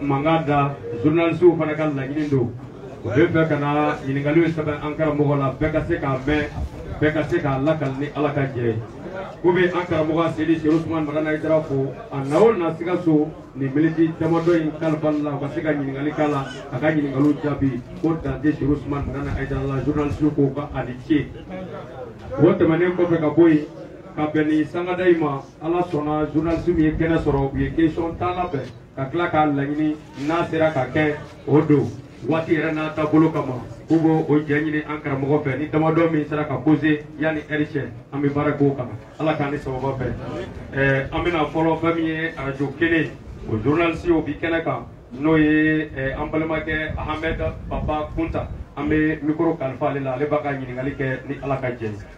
mankan da journalistew fana ka laɲini don u bɛ fɛ ka na ɲininkaliw sɛbɛn an karamɔgɔ la bɛɛ ka se k'a mɛn bɛɛ ka se k'a lakali ni ala ka jɛ ye ko bɛ an karamɔgɔ seyidi serifu usumani madani hayidara fo a na o na sikaso nin miniti damadɔ in kalifa la u ka se ka ɲininkali k'a la a ka ɲininkaliw jaabi ko dante serifu usumani madani hayidara la journalistew k'o ka a ni ce o tɛmɛnen kɔfɛ ka bɔ yen ka bɛn ni sangada in ma ala sɔnna journaliste min ye kɛnɛ sɔrɔ u ye question tan labɛn ka tila k'a laɲini n'a sera ka kɛ o don waati yɛrɛ n'a taabolo kama k'u b'o o jɛ ɲini an karamɔgɔ fɛ ni damadɔ min sera ka poser yanni heure cɛ an bɛ baara k'o kan ala k'an ni sababa bɛn ɛɛ an bɛna fɔlɔ fɛn min ye arajo kelen o journaliste o bi kɛnɛ kan n'o ye ɛɛ an balimakɛ ahamɛd papa kunta an bɛ mikoro kalifa ale la ale b'a ka ɲininkali kɛ ni ala ka jɛ ye.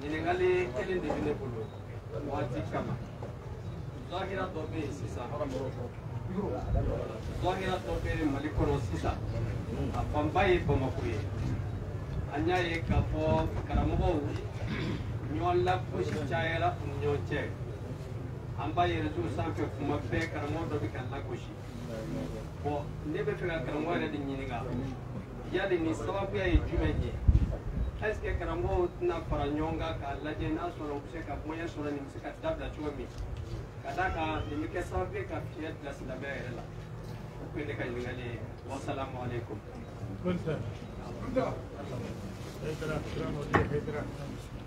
ɲininkali kelen de bɛ ne bolo waati kama zahira dɔ bɛ yen sisan zahira dɔ bɛ yen mali kɔnɔ sisan a fanba ye bamakɔ ye an y'a ye k'a fɔ karamɔgɔw ɲɔgɔn lagosi cayara u ni ɲɔgɔn cɛ an b'a ye reseau sanfɛ tuma bɛɛ karamɔgɔ dɔ bɛ ka lagosi bon ne bɛ fɛ ka karamɔgɔ yɛrɛ de ɲininka yali nin sababuya ye jumɛn ye est ce que karamɔgɔw tɛna fara ɲɔgɔn kan k'a lajɛ n'a sɔrɔ u bɛ se ka moyen sɔrɔ nin bɛ se ka dabila cogo min ka d'a kan nin bɛ kɛ sababu ye ka fiɲɛ bila silamɛya yɛrɛ la o tun ye ne ka ɲininkali ye wasalamualeykum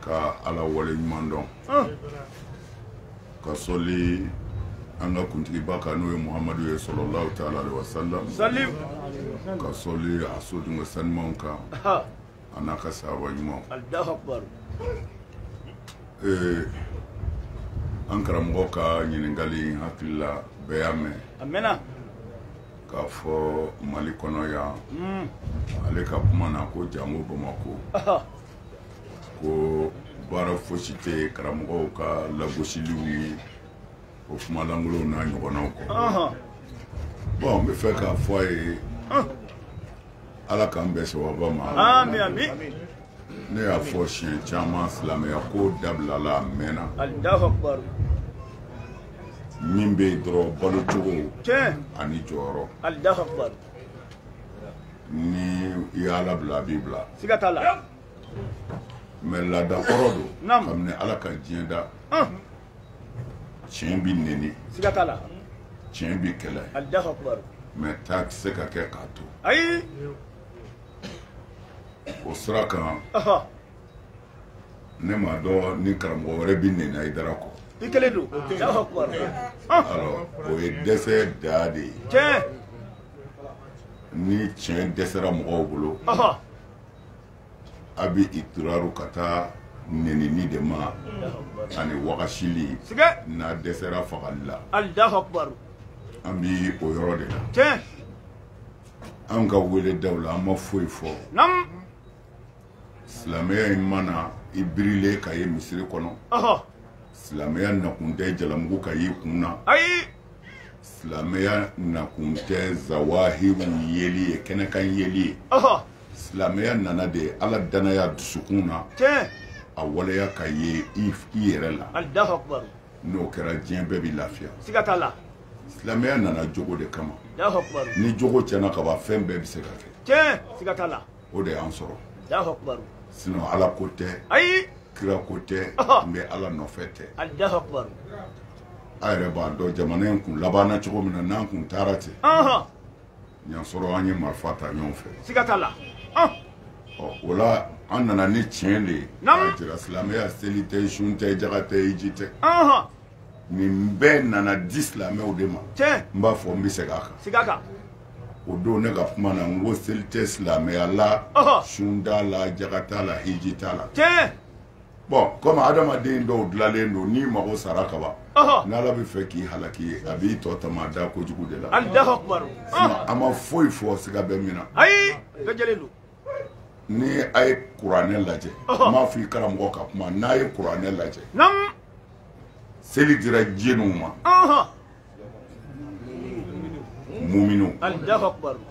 ka ala wale ɲuman dɔn ka sɔli an ka kuntigiba kan n'o ye muhamadu ye salalahu taala aleyihi wasalam ka sɔli a sodunko sanimanw kan a n'a ka sahaba ɲumanw an karamɔgɔ ka ɲininkali n hakili la bɛɛ y'a mɛn k'a fɔ mali kɔnɔ yan hmm. ale ka kuma na ko jango bamakɔ ko baara fosi tɛ karamɔgɔw ka lagosiliw ni o kuma lankolonw n'a ɲɔgɔnnaw kɔ bon n bɛ fɛ k'a fɔ a ye ala k'an bɛn sababa ma ne y'a fɔ siɲɛ caman silamɛya ko dabilala a mɛnna min bɛ yen dɔrɔn balo cogo ani jɔyɔrɔ ni i y'a labila a b'i bila siga t'a la mais laada kɔrɔ don kabini ala ka diɲɛ da tiɲɛ bi neni siga t'a la tiɲɛ bi kɛlɛ mais taa tɛ se ka kɛ k'a to ayi o sira kan ne m'a dɔn ni karamɔgɔ wɛrɛ bɛ neni haidara kɔ i kelen don o ye dɛsɛ da de ye tiɲɛ ni tiɲɛ dɛsɛra mɔgɔw bolo a bɛ itiraru ka taa nenini de ma ani wagasili n'a dɛsɛra fagali la an bɛ o yɔrɔ de la an ka weledaw la an ma foyi fɔ silamɛya in ma na i birilen ka ye misiri kɔnɔ silamɛya nakun tɛ jalamugu ka y'i kun na ayi silamɛya nakun tɛ zawahiru yeli ye kɛnɛkan yeli ye silamɛya nana de ala dannaya dusukun na a waleya ka ye i yɛrɛ la n'o kɛra diɲɛ bɛɛ bɛ lafiya silamɛya nana jogo de kama ni jogo tiɲɛna ka ban fɛn bɛɛ bɛ se ka kɛ o de y'an sɔrɔ sinɔn ala ko tɛ ayi kira ko tɛ n bɛ ala nɔfɛ tɛ a yɛrɛ b'a dɔn jamana in kun labanna cogo min na n'an kun taara ten y'a sɔrɔ an ye marifa ta ɲɔgɔn fɛ siga t'a la o la an nana ni tiɲɛ de ye k'a jira silamɛya seli tɛ sun tɛ jaga tɛ hiji tɛ nin bɛɛ nana di silamɛw de ma n b'a fɔ n bɛ segin a kan kan o don ne ka kuma na n ko seli tɛ silamɛya la sun t'a la jaga t'a la hiji t'a la bɔn kɔmi adamaden dɔw dilalen don n'i mago sara ka ban n'ala bɛ fɛ k'i halaki a b'i tɔ tama da kojugu de la an ma foyi fɔ siga bɛ min na ni a ye kuranɛ lajɛ n m'a fɔ i karamɔgɔ ka kuma n'a ye kuranɛ lajɛ seli dira jɛniw ma muminu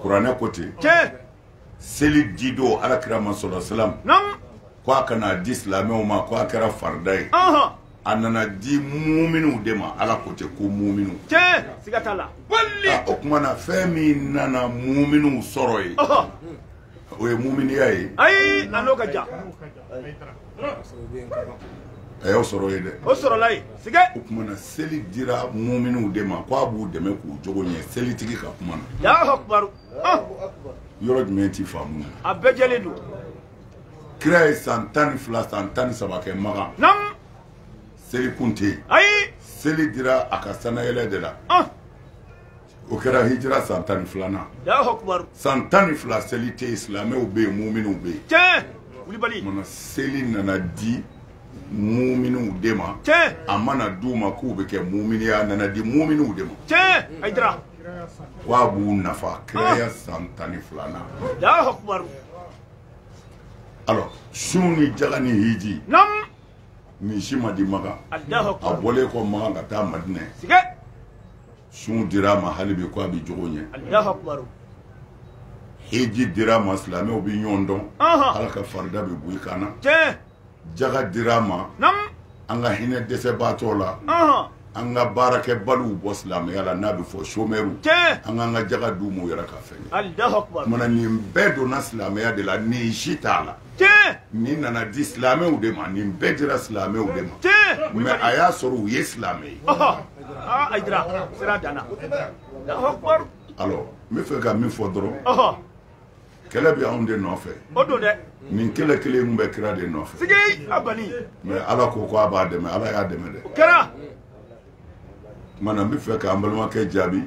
kuranɛ ko ten seli di don ala kira ma sola salam ko a ka na di silamɛw ma ko a kɛra farida ye a nana di muminw de ma ala ko ten ko muminw tiɲɛ siga t'a la bali o kuma na fɛn min nana muminw sɔrɔ yen o ye muminiya ye ayi a n'o ka jan a y'u sɔrɔ yen dɛ u sɔrɔla yen sigɛ o kuma na seli dira muminw de ma ko a b'u dɛmɛ k'u jogo ɲɛ selitigi ka kuma na yɔrɔ jumɛn t'i faamu a bɛɛ jɛlen don kira ye san tan ni fila san tan ni saba kɛ makan seli kun tɛ yen ayi seli dira a ka sanayɛlɛ de la ah. o kɛra hijira san tan ni filanan san tan ni fila seli tɛ yen silamɛw bɛ yen muminw bɛ yen tiɲɛ wulibali mana seli nana di muminw de ma tiɲɛ a ma na d'u ma k'u bɛ kɛ mumini ye a nana di muminw de ma tiɲɛ hijira wa a b'u nafa kiraya ah. san tan ni filanan alors sun ni jaga ni hiji naamu nin si ma di maka a bɔlen kɔ maka ka taa madinɛ sun dira a ma hali bi ko a bɛ jogo ɲɛ hiji dira a ma silamɛw bɛ ɲɔgɔn dɔn ala ka farida bɛ bɔ i kan na jaga dira a ma an ka hinɛ dɛsɛbaatɔ la an ka baarakɛbaliw bɔ silamɛya la n'a bɛ fɔ chômeurs an k'an ka jaga d'u ma u yɛrɛ ka fɛn kɛ o maana nin bɛɛ donna silamɛya de la nin si t'a la nin nana di silamɛw de ma nin bɛɛ dira silamɛw de ma mais a y'a sɔrɔ u ye silamɛ ye alors n bɛ fɛ ka min fɔ dɔrɔn kɛlɛ bɛ anw de nɔfɛ o don dɛ nin kɛlɛ kelen kun bɛ kira de nɔfɛ siga banna mais ala ko ko a b'a dɛmɛ ala y'a dɛmɛ dɛ o kɛra o maana n bɛ fɛ k'an balimakɛ jaabi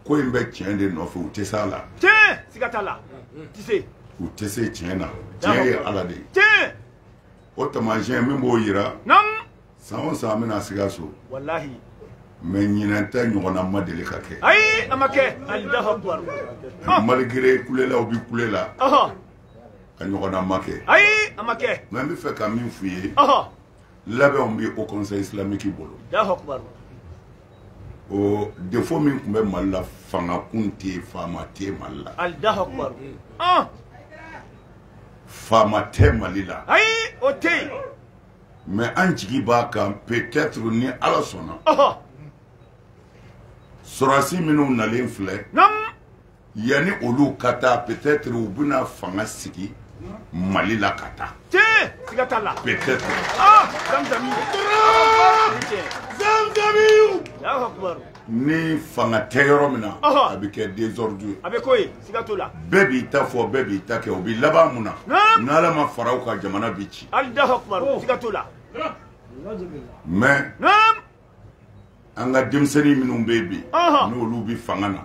ko in bɛ tiɲɛ de nɔfɛ u tɛ se a la tiɲɛ siga t'a la u tɛ se u tɛ se tiɲɛ na tiɲɛ ye ala de ye tiɲɛ o taamasiyɛn min b'o jira naamu san o san an bɛ na sikaso walahi mais ɲinɛn ta ɲɔgɔnna ma deli ka kɛ ayi a ma kɛ alahu akubar malgré kulelaw bi kule la a ɲɔgɔnna ma kɛ ayi a ma kɛ mais n bɛ fɛ ka min f'u ye labɛnw bɛ haut conseil islamique bolo alahu akubar o défaut min tun bɛ mali la fanga kun tɛ yen faama tɛ mali la alahu akubar faama tɛ mali la ayi o tɛ yen mais an jigi b'a kan peut-être ni ala sɔnna sɔrɔdasi minnu nalen filɛ yanni olu ka taa peut-être u bɛna fanga sigi mali la ka taa peut-être ah, ni fanga tɛ yɔrɔ min na a bɛ kɛ désordre ye a bɛ k'o ye siga t'o la bɛɛ b'i ta fɔ bɛɛ b'i ta kɛ o bɛ laban mun na n'ala ma fara u kan jamana bɛ ci alahu akubaru oh. siga t'o la mais an ka denmisɛnnin minnu bɛ yen bi n'olu bɛ fanga na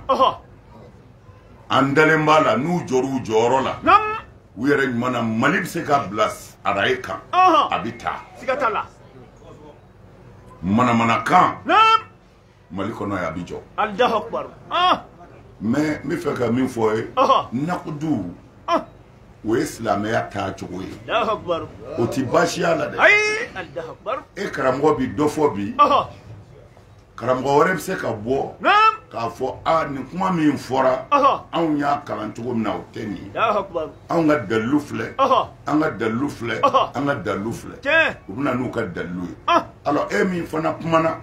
an dalen b'a la n'u jɔr'u jɔyɔrɔ la u yɛrɛ ɲuman na mali bɛ se ka bila araye kan a bɛ taa siga t'a la manamanakan mali kɔnɔ yan a bi jɔ ah! mais n bɛ fɛ ka min fɔ ye nakudu ah! o ye silamɛya taa cogo ye o tɛ baasiya la dɛ e karamɔgɔ bi dɔ fɔ bi karamɔgɔ wɛrɛ bɛ se ka bɔ k'a fɔ a nin kuma min fɔra anw y'a kalan cogo min na o tɛ nin ye anw ka dalilu filɛ an ka dalilu filɛ an ka dalilu filɛ u bɛ na n'u ka dalilu ye alors e min fana kumana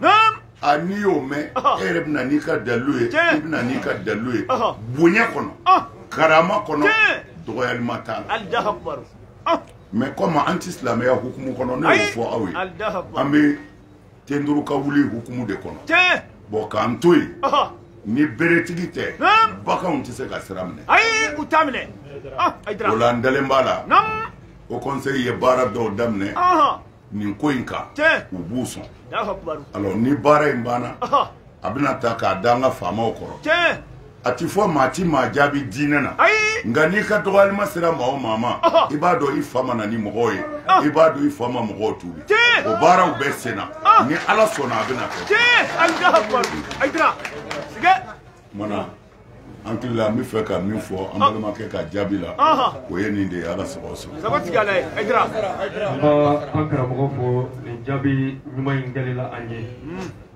a n'i y'o mɛn e yɛrɛ bɛ na n'i ka dalilu ye i bɛ na n'i ka dalilu ye bonya kɔnɔ karama kɔnɔ dɔgɔyalima t'a la mɛ kɔmi an tɛ silamɛya hukumu kɔnɔ ne y'o fɔ aw ye an bɛ ten duuru ka wuli hukumu de kɔnɔ tiɲɛ bon k'an to yen ni beretigi tɛ baganw tɛ se ka sira minɛ ayi u t'a minɛ ah, o la n dalen b'a la o conseil ye baara dɔw daminɛ nin ko in kan u b'u sɔn alors ni baara in banna a bɛna ta k'a da an ka faamaw kɔrɔ tiɲɛ a ti fɔ maa ti maa jaabi diinɛ na ayi nka n'i ka dɔgɔyalima sera maa o maa ma Ɔhɔ. i b'a dɔn i fa ma na ni mɔgɔw ye Ah. i b'a dɔn i fa ma mɔgɔw tuubi Tiɲɛ. o baaraw bɛɛ senna Ah. ni ala sɔnna a bɛna kɛ tiɲɛ ayi da hakili ayidara sigɛ kumana an hakili la an bɛ fɛ ka min fɔ an balimakɛ ka jaabi la o ye nin de ye ala sago aw sago an b'an karamɔgɔ fo nin jaabi ɲuman in kɛli la an ye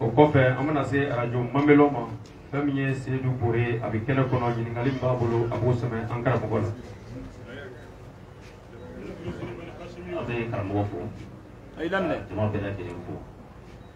o kɔfɛ an bɛna se arajo mamɛlɔ ma fɛn min ye seyidu bore ye a bɛ kɛnɛ kɔnɔ ɲininkali min b'a bolo a b'o sɛmɛ an karamɔgɔ la an bɛ karamɔgɔ fo jama bɛɛ lajɛlen fo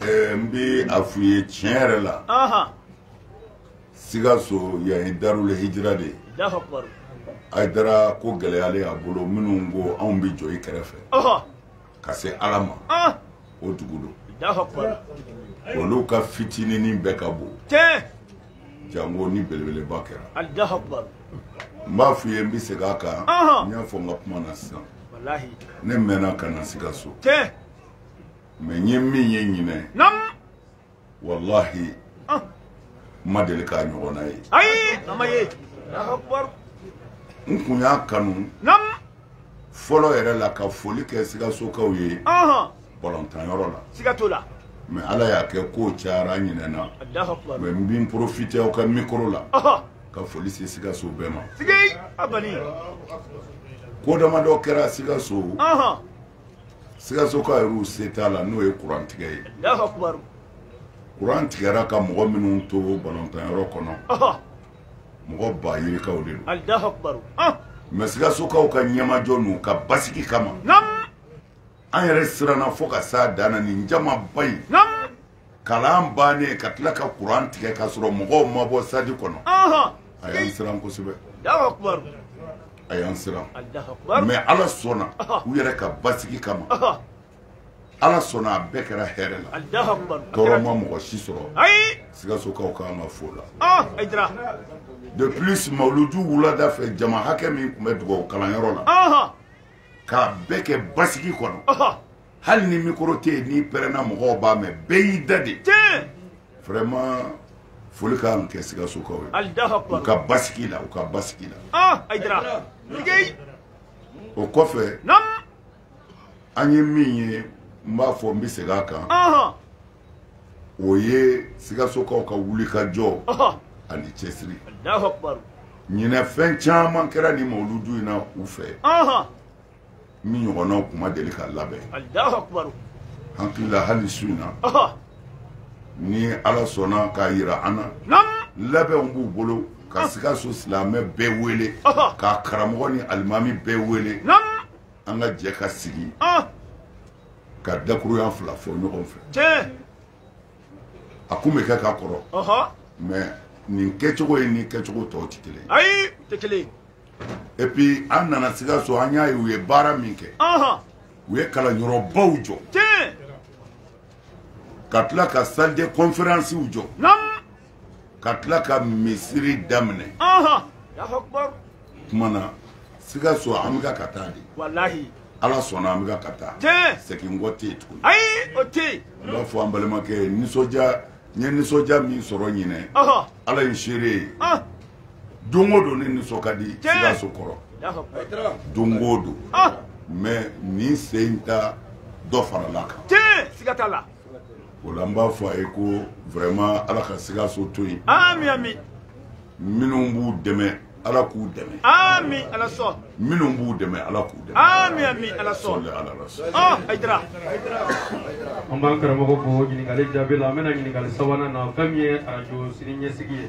n bɛ a f'u ye tiɲɛ yɛrɛ la Sikaso yan ye Darul hijira de ye Ayidara ko gɛlɛyalen a bolo minnu ko anw bɛ jɔ i kɛrɛfɛ ka se Ala ma o dugu don olu ka fitininin bɛɛ ka bon jango ni belebeleba kɛra n b'a f'u ye n bɛ segin a kan n y'a fɔ n ka kuma na sisan ne mɛnna ka na Sikaso. mɛ n ye min ye ɲinan walahi ah. n ma deli k'a ɲɔgɔnna ye ayi a ma ye n kun y'a kanu fɔlɔ yɛrɛ la ka foli kɛ sigasokaw ye balɔntanyɔrɔ la siga t'o la mɛ ala y'a kɛ kow cayara n ɲinɛna mɛ n bin porofite aw ka mikoro la ka foli se sigaso bɛɛ ma ko damadɔ kɛra sigaso sikasoka yɛrɛw se t'a la n'o ye kuran tigɛ ye kuran tigɛra ka mɔgɔ minnu to balɔntanyɔrɔ kɔnɔ mɔgɔ ba yirikaw de don mɛ sikasokaw ka ɲɛmajɔ n'u ka basigi kama an yɛrɛ siranna fo ka s'a dan na nin jamaba in kalan bannen ka tila ka kuran tigɛ k'a sɔrɔ mɔgɔw ma bɔ sitadi kɔnɔ a y'an siran kosɛbɛ a y'an siran mɛ ala sɔnna u yɛrɛ ka basigi kama ala sɔnna a bɛɛ kɛra hɛrɛ la tɔɔrɔ ma mɔgɔ si sɔrɔ sikasokaw ka kan ka fo la de plus mawuludu wulada fɛ jama hakɛ min tun bɛ dugawu kalanyɔrɔ la k'a bɛɛ kɛ basigi kɔnɔ hali ni mikoro tɛ yen n'i pɛrɛnna mɔgɔw b'a mɛn bɛɛ y'i dade vraiment foli ka kan kɛ sikasokaw ye u ka basigi la u ka basigi la ah, o kɔfɛ an ye min ye n b'a fɔ n bɛ segin a kan o ye sikasokaw ka wulikajɔ ani cɛsiri ɲinɛ fɛn caman kɛra nin mawuludu in na u fɛ min ɲɔgɔnnaw kun ma deli ka labɛn hakili la hali su in na ni ala sɔnna k'a yira an na labɛnw b'u bolo ka ah. sikaso silamɛ bɛɛ wele ka karamɔgɔ ni alimami bɛɛ wele an ka jɛ ka sigi ah. ka dakuruya fila fɔ ɲɔgɔn fɛ a kun bɛ kɛ ka kɔrɔ mɛ nin kɛcogo ye ni kɛcogo tɔw tɛ kelen ye et puis an nana sikaso an y'a ye u ye baara min kɛ u ye kalanyɔrɔbaw jɔ ka tila ka salle de conférencew jɔ ka tila ka misiri daminɛ kuma na sikaso an bɛ ka ka taa de ala sɔnna an bɛ ka ka taa segin kɔ tɛ yen tuguni ayi o tɛ yen n b'a fɔ an balimakɛ ye nisɔndiya n ye nisɔndiya min sɔrɔ ɲinɛ ala ye seere ye don o don ne nisɔn ka di sikaso kɔrɔ don o don ah! mɛ nin sen in ta dɔ farala kan siga t'a la o la n b'a fɔ a ye ko vraiment ala ka sikaso to yen ami ami minnu b'u dɛmɛ ala k'u dɛmɛ ami ala sɔn minnu b'u dɛmɛ ala k'u dɛmɛ ami ami ala sɔn sɔli ala la sɔn ɔ ayidara an b'an karamɔgɔ fo ɲininkali jaabi la an bɛna ɲininkali sabanan na fɛn min ye arajo sini ɲɛsigi ye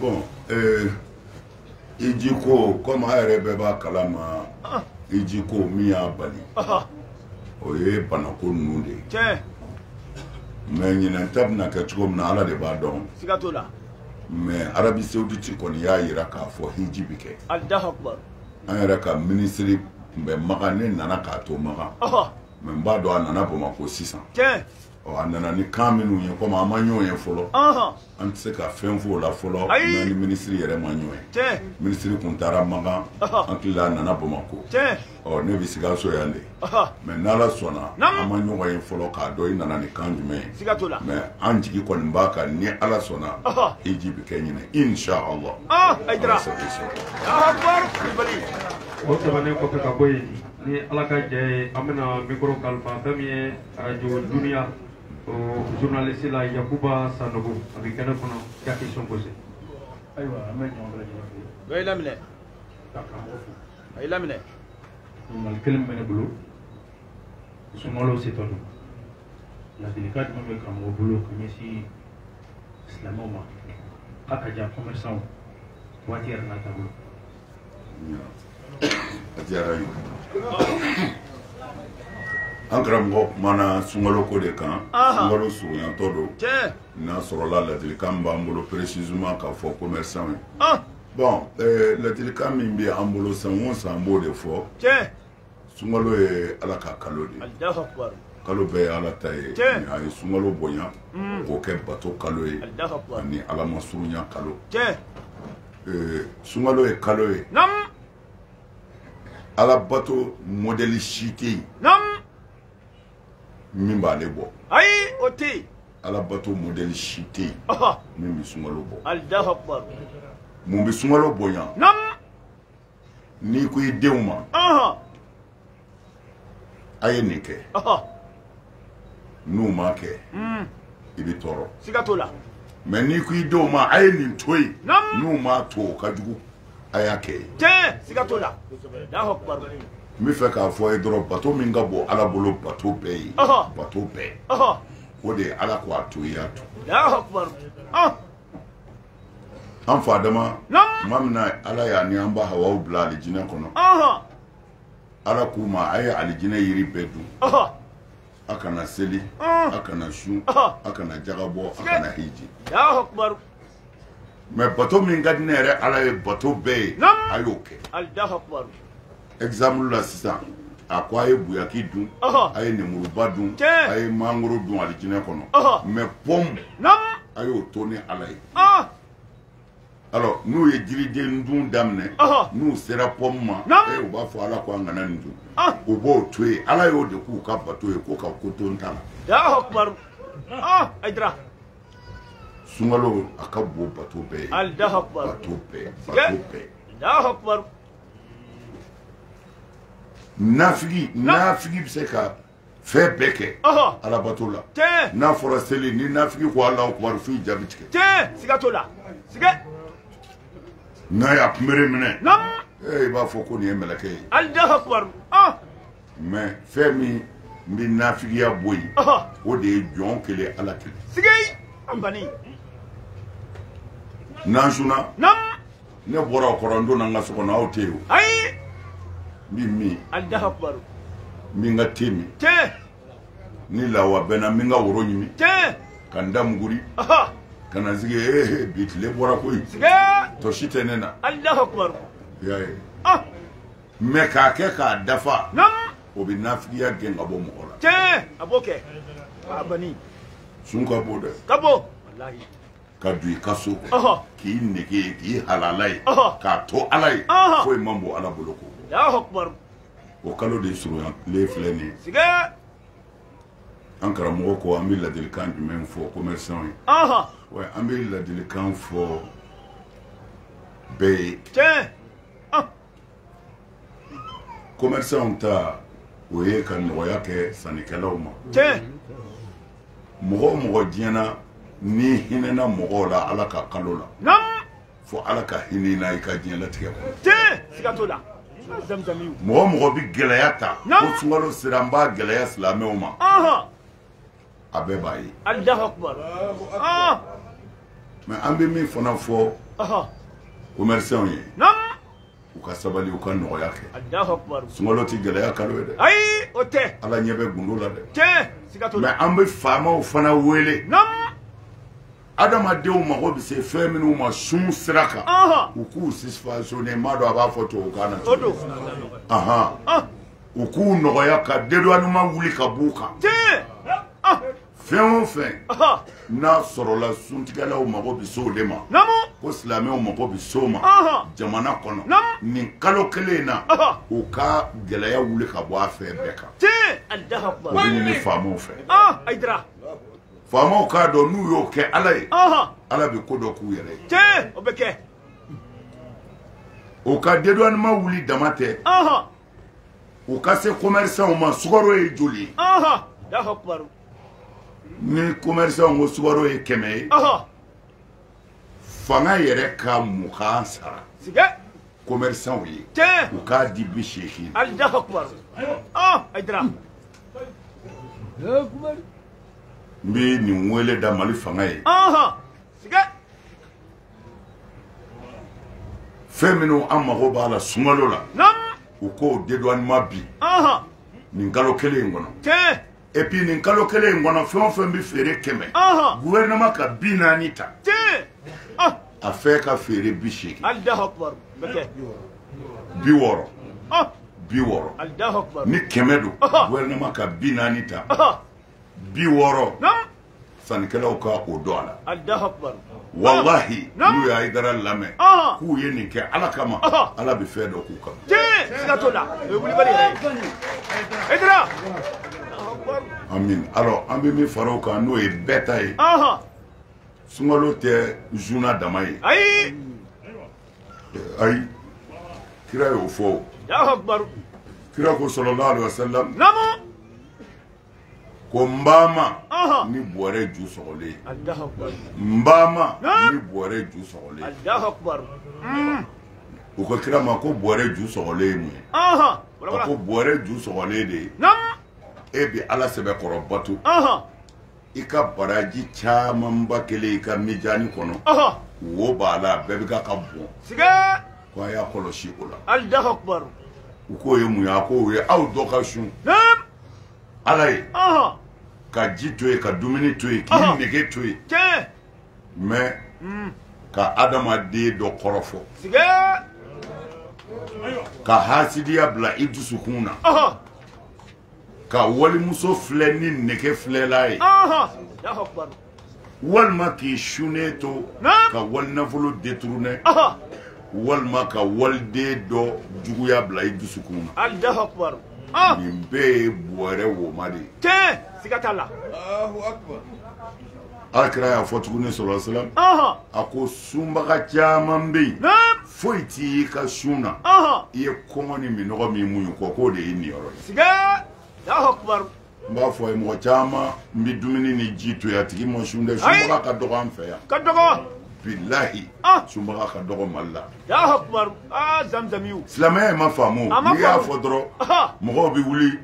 bon euh, hiji ko komi a yɛrɛ bɛɛ b'a kalama ah. hiji ko min y'a bali ah. o ye banako ninnu de ye mɛ ɲinɛn ta bɛna kɛ cogo min na ala de b'a dɔn siga t'o la mɛ arabi sawuditi kɔni y'a yira k'a fɔ hiji bɛ kɛ an yɛrɛ ka minisiri tun bɛ makan ne nana k'a to makan mɛ n b'a dɔn a nana bamakɔ sisan ɔ a nana ni kan minnu ye komi an ma ɲɔgɔn ye fɔlɔ an tɛ se ka fɛn f'o la fɔlɔ n'an ni minisiri yɛrɛ ma ɲɔgɔn ye minisiri kun taara makan an hakili la a nana bamakɔ ɔ ne bɛ sikaso yan de mɛ n'ala sɔnna an ma ɲɔgɔn ye fɔlɔ k'a dɔn i nana ni kan jumɛn ye mɛ an jigi kɔni b'a kan ni ala sɔnna hiji bɛ kɛ ɲinɛ inshallah ala sago i sɔrɔ o tɛmɛnen kɔfɛ ka bɔ yen ni ala ka jɛ ye an bɛna mikoro kalifa fɛn min ye radio duniya o journaliste la yakuba sanogo a bɛ kɛnɛ kɔnɔ ka question posé ayiwa an bɛ ɲɔgɔn bɛɛ lajɛlen fo a y'i laminɛ ka karamɔgɔ fo a y'i laminɛ ɲininkali kelen bɛ ne bolo sunkalo setɔ don ladilikan jumɛn bɛ karamɔgɔ bolo ka ɲɛsin silamɛw ma k'a ka jan commerçant waati yɛrɛ n'a taabolo a diyara n ye an karamɔgɔ kumana sunkalo ko de kan sunkalo surunyatɔ don n'a sɔrɔla ladilikan b'an bolo précisément k'a fɔ commerçant ye bon ladilikan min bɛ an bolo san o san an b'o de fɔ sunkalo ye ala ka kalo de ye kalo bɛɛ ye ala ta ye a ye sunkalo bonya mm. k'o kɛ bato kalo ye ani ala ma surunya kalo sunkalo ye kalo ye ala bato mɔdɛli si tɛ yen min b'ale bɔ ayi o tɛ yen ala bato mɔdɛli si tɛ yen min bɛ sunkalo bɔ mun bɛ sunkalo bonya n'i ko i denw ma a ye nin kɛ n'u m'a kɛ hmm. i bɛ tɔɔrɔ siga t'o la mɛ n'i ko i denw ma a ye nin to yen n'u m'a to o ka jugu a y'a kɛ ye tiɲɛ siga t'o la n bɛ fɛ k'a fɔ a ye dɔrɔn bato min ka bon ala bolo bato bɛɛ ye bato bɛɛ o de ye ala ko a to i y'a to an fa adama tuma min na ala y'a ni an ba hawaw bila alijinɛ kɔnɔ ala k'u ma a ye alijinɛ yiri bɛɛ dun a kana seli a kana sun a kana jaka bɔ a kana hiji mɛ bato min ka di ne yɛrɛ ala ye bato bɛɛ ye a y'o kɛ exemple la sisan a ko a ye buyaki dun a ye nemuruba dun a ye mangoro dun alijinɛ kɔnɔ mais pɔmu a y'o to ne ala ye alors n'u ye jiriden dun daminɛ n'u sera pɔmu ma u b'a fɔ ala ko an kana nin dun u b'o to yen ala y'o de k'u ka bato ye ko ka ko to n ta la sunkalo a ka bon bato bɛɛ ye bato bɛɛ bato bɛɛ nafigi nafigi bɛ se ka fɛn bɛɛ kɛ alabato la n'a fɔra seli ni nafigi ko alahu akubaru f'i ja bɛ tigɛ siga t'o la siga n'a y'a kunbere minɛ i b'a fɔ ko nin ye mɛlɛkɛ ye alahu akubaru mais fɛn min bɛ nafigiya bɔ yen o de ye jɔn kelen ala kelen siga an bani n'an sunna ne bɔra o kɔrɔ n donna n ka so kɔnɔ aw tɛ yen o ayi n bɛ min alahu akubaru n bɛ n ka te min tiɲɛ ni lawa bɛnna n bɛ n ka woro ɲimi tiɲɛ ka n da muguri ka na n sigi ee bi tile bɔra koyi tɔ si tɛ ne na alahu akubaru i y'a ye ah mais k'a kɛ k'a dafa o bɛ nafigiya gɛn ka bɔ mɔgɔ la tiɲɛ a b'o kɛ a bani sun ka bon dɛ ka bon walahi ka don i ka so kɔnɔ k'i nege ye k'i halala ye k'a to ala ye foyi man bon ala bolo k'o o kalo de surunyalen filɛ nin ye an karamɔgɔ ko an bɛ ladilikan jumɛn fɔ commerçant ye wa an bɛ ladilikan fɔ bɛɛ ye tiɲɛ commerçants ta o ye ka nɔgɔya kɛ sannikɛlaw ma tiɲɛ mɔgɔ o mɔgɔ diɲɛ na n'i hinɛna mɔgɔw la ala ka kalo la naamu fo ala ka hinɛ na i ka diɲɛlatigɛ kɔnɔ tiɲɛ siga t'o la mɔgɔ o mɔgɔ bɛ gɛlɛya ta ko sunkalo sera n b'a gɛlɛya silamɛw ma a bɛɛ b'a ye ah! mais an bɛ min fana fɔ commerçants ye u ka sabali u ka nɔgɔya kɛ sunkalo tɛ gɛlɛya kalo ye dɛ ayi o tɛ ala ɲɛ bɛ gundo la dɛ tiɲɛ siga t'o la mais an bɛ faamaw fana wele adamadenw mago bɛ se fɛn minnu ma sun sira kan u k'u subventionner n m'a dɔn a b'a fɔ tubabukan na cogo u k'u nɔgɔya ka dédouanement wuli ka b'u kan ah. fɛn o fɛn n'a sɔrɔla suntigɛlaw mago bɛ se o de ma ko silamɛw mago bɛ se o ma jamana kɔnɔ nin kalo kelen in na u ka gɛlɛya wuli ka bɔ a fɛn bɛɛ kan o bɛ ɲini faamaw fɛ ayidara faamaw k'a dɔn n'u y'o kɛ ala ye ala bɛ ko dɔ k'u yɛrɛ ye o bɛ kɛ o ka dédouanement wuli dama tɛ u ka se commerçants ma sukaro ye joli ye ɔhɔ alahu akubaru ni commerçant ko sukaro ye kɛmɛ ye ɔhɔ fanga yɛrɛ ka mugan sara siga commerçant ye tiɲɛ u k'a di bi seegin alahu akubaru ayidara n bɛ nin wele da mali fanga ye ɔhɔ siga fɛn minnu an mago b'a la sunkalo la u k'o dédouanement bin nin kalo kelen in kɔnɔ et puis nin kalo kelen in kɔnɔ fɛn o fɛn bɛ feere kɛmɛ gouvernement ka bi naani ta a fɛn ka feere bi seegin bi wɔɔrɔ bi wɔɔrɔ ni kɛmɛ don gouvernement ka bi naani ta bi wɔɔrɔ sannikɛlaw ka o dɔn a la walahi n'u y'ayidara lamɛn k'u ye nin kɛ ala kama ala bɛ fɛn dɔ k'u kama. tiɲɛ siga t'o la o ye wulibali yɛrɛ ye. ayidara. amin alors an bɛ min fara o kan n'o ye bɛɛ ta ye. sunkalo tɛ zuna dama ye. ayi. ayi kira y'o fɔ o. kira ko sallallahu alayhi wa sallam. namu. ko n ba ma ni bɔrɛ ju sɔgɔlen n ba ma ni bɔrɛ ju sɔgɔlen mm. u ko kira ma ko bɔrɛ ju sɔgɔlen ye mun ye a ko bɔrɛ ju sɔgɔlen de ye e bi ala sɛbɛkɔrɔ bato i ka baraji camanba kɛlen i ka mijani kɔnɔ wo b'a la bɛɛ bɛ ka ka bɔn ko a y'a kɔlɔsi o la u k'o ye mun ye a k'o ye aw dɔ ka sun ala ye ka ji to yen ka dumuni to yen k'i nege to yen mɛ hmm. ka adamaden dɔ kɔrɔfɔ ka hasidiya bila i dusukun na ka walimuso filɛ ni nege filɛla ye walima k'i sunnen to ka walinafolo détourner walima ka waliden dɔ juguya bila i dusukun na alahu akubaru ah! nin bɛɛ ye bɔrɛ woma de ye tiɲɛ siga t'a la alakira y'a fɔ tuguni sallallahu alayhi wa sallam a ko sunbaga caman bɛ yen foyi t'i y'i ka sun na i ye kɔngɔ ni minnɔgɔ min muɲu kɔ k'o de y'i niyɔrɔ ye siga alahu akubaru n b'a fɔ a ye mɔgɔ caman bɛ dumuni ni ji to yen a tigi ma sun dɛ sunbaga ka dɔgɔ an fɛ yan ka dɔgɔ bilahi ah. sunbaga ka dɔgɔ mali la ah, silamɛya ma faamu n'i y'a fɔ dɔrɔn mɔgɔw bɛ wuli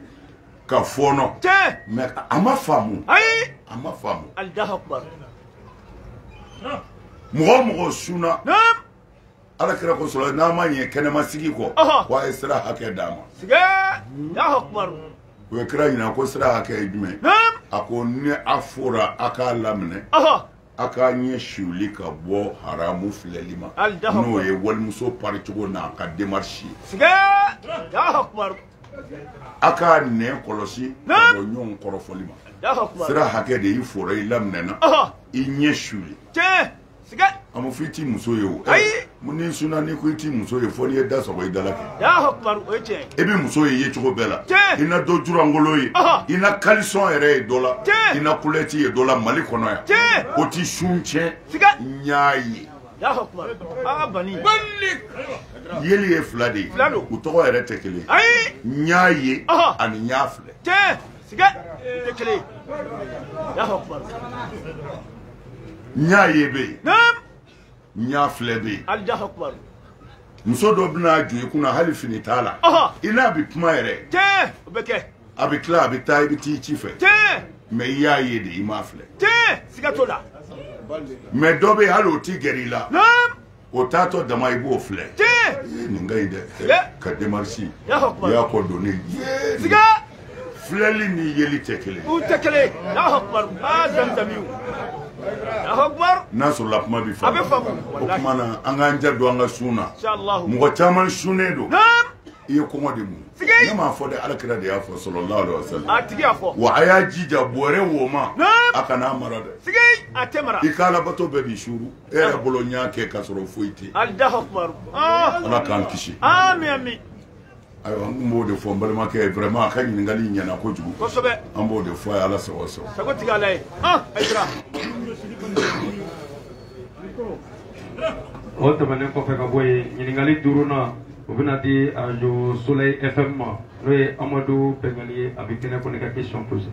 ka fɔɔnɔ mɛ a ma faamu a ma faamu mɔgɔ o mɔgɔ sunna ala kira ko sallallahu n'a ma ɲɛ kɛnɛma sigi kɔ ko a ye sira hakɛ d'a ma u ye kira ɲininka ko sira hakɛ ye jumɛn a ko ni a fora a k'a laminɛ a k'a ɲɛ suuli ka bɔ haramu filɛli ma n'o ye walimuso paricogo n'a ka démarche ye a k'a nɛn kɔlɔsi ka bɔ ɲɔgɔn kɔrɔfɔli ma sira hakɛ de y'i fora i laminɛna i ɲɛ suuli siga a ma fɔ i t'i muso ye o ayi mun n'i sunna n'i ko i t'i muso ye fɔ n'i ye da sɔgɔ i da la kɛ Alahu akibaru o ye tiɲɛ i bɛ muso ye yecogo bɛɛ la tiɲɛ i na dɔ julankolon ye i na kalisɔn yɛrɛ ye dɔ la tiɲɛ i na kulɛti ye dɔ la mali kɔnɔ yan tiɲɛ o ti sun tiɲɛ siga n y'a ye Alahu akibaru aa bani bani yeli ye fila de ye u tɔgɔ yɛrɛ tɛ kelen ayi n y'a ye ani n y'a filɛ tiɲɛ siga tɛ kelen ye Alahu akibaru n y'a ye bɛ yen n y'a filɛ bɛ yen Alahu akibaru muso dɔ bɛna jɔ i kunna hali fini t'a la i n'a bɛ kuma yɛrɛ tiɲɛ o bɛ kɛ a bɛ tila a bɛ taa i bɛ t'i ci fɛ tiɲɛ mɛ i y'a ye de i m'a filɛ tiɲɛ siga t'o la mɛ dɔ bɛ yen hali o t'i gɛrɛ i la o taatɔ dama i b'o filɛ nin ka ɲi dɛ ka demarisi y'a kɔ don ne ye filɛli ni yeli tɛ kelen u tɛ kelen Alahu akibaru aa zamizamiw Alahu akibaru n'a sɔrɔla kuma bɛ faamu a bɛ faamu o tuma na an k'an ja don an ka sun na mɔgɔ caman sunnen don i ye kɔngɔ de mun ne m'a fɔ dɛ ala kira de y'a fɔ sallallahu alayhi wa sallam a tigi y'a fɔ wa a y'a jija bɔrɛ woma a kana a mara dɛ a tɛ mara i ka alabato bɛɛ b'i suuru e yɛrɛ bolo n y'a kɛ k'a sɔrɔ foyi tɛ yen ala k'an kisi ayiwa n tun b'o de fɔ n balimakɛ ye vraiment a ka ɲininkali ɲɛna kojugu kosɛbɛ an b'o de fɔ a ye ala sago sago sago tigi ala ye ayidara o tɛmɛnen kɔfɛ ka bɔ yen ɲininkali duurunan o bɛna di arajo soleil fm ma n'o ye amadu bɛngali ye a bɛ kɛnɛ kɔni ka question poser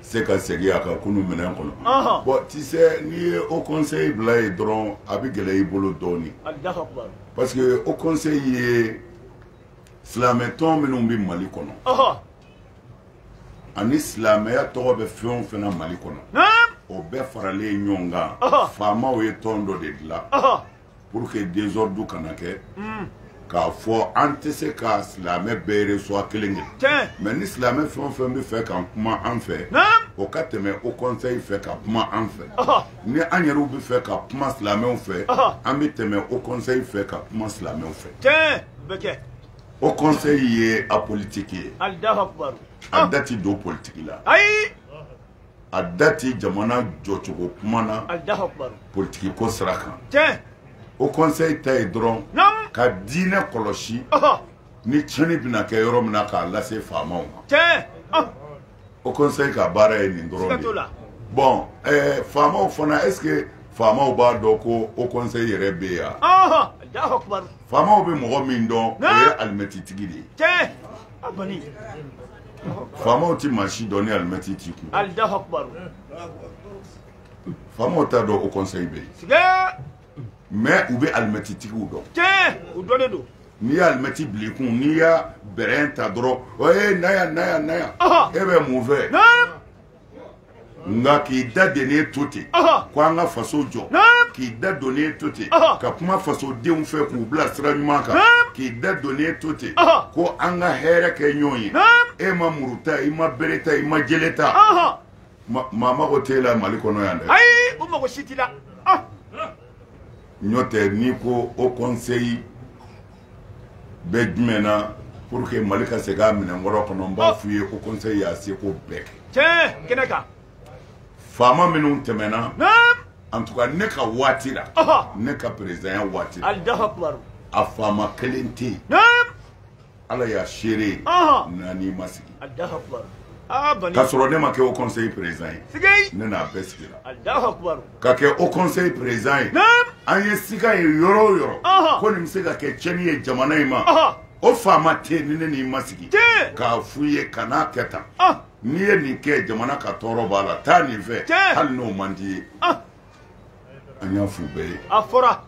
se ka segin a ka kunun minɛn kɔnɔ bon tu sais n'i ye haut conseil bila yen dɔrɔn a bɛ gɛlɛya i bolo dɔɔnin parce que haut conseil ye silamɛtɔn minnu bɛ mali kɔnɔ ani silamɛya tɔgɔ bɛ fɛn o fɛn na mali kɔnɔ o bɛɛ faralen ɲɔgɔn kan faamaw ye tɔn dɔ de dilan pour que désordre kana kɛ k'a fɔ an tɛ se ka silamɛ bɛɛ reçoit kelen kelen mɛ ni silamɛ fɛn o fɛn bɛ fɛ ka kuma an fɛ o ka tɛmɛ haut conseil fɛ ka kuma an fɛ ni an yɛrɛw bɛ fɛ ka kuma silamɛw fɛ an bɛ tɛmɛ haut conseil fɛ ka kuma silamɛw fɛ haut conseil ye apolitique ye a da ti don politiki la a da tɛ jamana jɔcogo kuma na politiki ko sira kan haut conseil ta ye dɔrɔn ka diinɛ kɔlɔsi ni tiɲɛni bɛna kɛ yɔrɔ min na k'a lase faamaw ma haut conseil ka baara ye nin dɔrɔn de ye bon ɛɛ faamaw fana est ce que faamaw b'a dɔn ko haut conseil yɛrɛ bɛ yan faamaw bɛ mɔgɔ min dɔn o ye alimɛtitigi de ye faamaw tɛ maa si dɔn ni alimɛti t'i kun faamaw t'a dɔn haut conseil bɛ yen mais u bɛ alimɛti tigiw dɔn u dɔnnen don n'i ye alimɛti bila i kun n'i y'a bɛrɛn ta dɔrɔn o ye na yan na yan na yan e bɛ mun fɛ nka k'i da dennen to ten ko an ka faso jɔ k'i da donnen to ten ka kuma fasodenw fɛ k'u bila sira ɲuman kan k'i da donnen to ten ko an ka hɛrɛ kɛ ɲɔgɔn ye e ma muru ta i ma bere ta i ma jele ta maa mago t'e la mali kɔnɔ yan dɛ ayi o mago si t'i la n'o tɛ n'i ko haut conseil bɛ jumɛn na pour que mali ka segin a minɛn kɔrɔ kɔnɔ n b'a f'u ye ko conseil y'a seko bɛɛ kɛ tiɲɛ kɛnɛ kan faama minnu tɛmɛna en tout cas ne ka waati la ne ka perezidanya waati la a faama kelen tɛ yen ala y'a seere n'an n'i ma sigi k'a sɔrɔ ne ma kɛ haut conseil président ye ne n'a bɛɛ sigira ka kɛ haut conseil président ye an ye sika ye yɔrɔ o yɔrɔ ko nin bɛ se ka kɛ cɛni ye jamana in ma o faama tɛ ni ne n'i ma sigi k'a f'u ye kan'a kɛ tan n'i ye nin kɛ jamana ka tɔɔrɔ b'a la taa nin fɛ hali n'o man d'i ye an y'a f'u bɛɛ ye a fɔra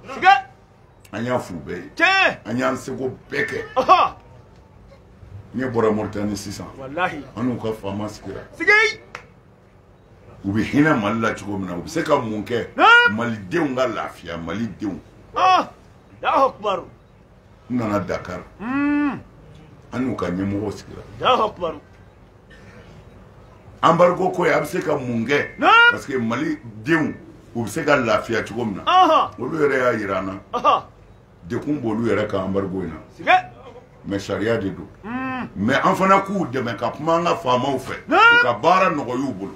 an y'a f'u bɛɛ ye an y'an seko bɛɛ kɛ ne bɔra moritani sisan an n'u ka faama sigira u bɛ hinɛ mali la cogo min na u bɛ se ka mun kɛ malidenw ka lafiya malidenw ah, n nana dakar hmm. an n'u ka ɲɛmɔgɔw sigira embargo ko ye a bɛ se ka mun kɛ parce que malidenw u bɛ se ka lafiya cogo min na olu yɛrɛ y'a jira an na degun b'olu yɛrɛ ka embargo in na mais sariya de don hmm. mais an fana k'u dɛmɛ ka kuma an ka faamaw fɛ u ka baara nɔgɔy'u bolo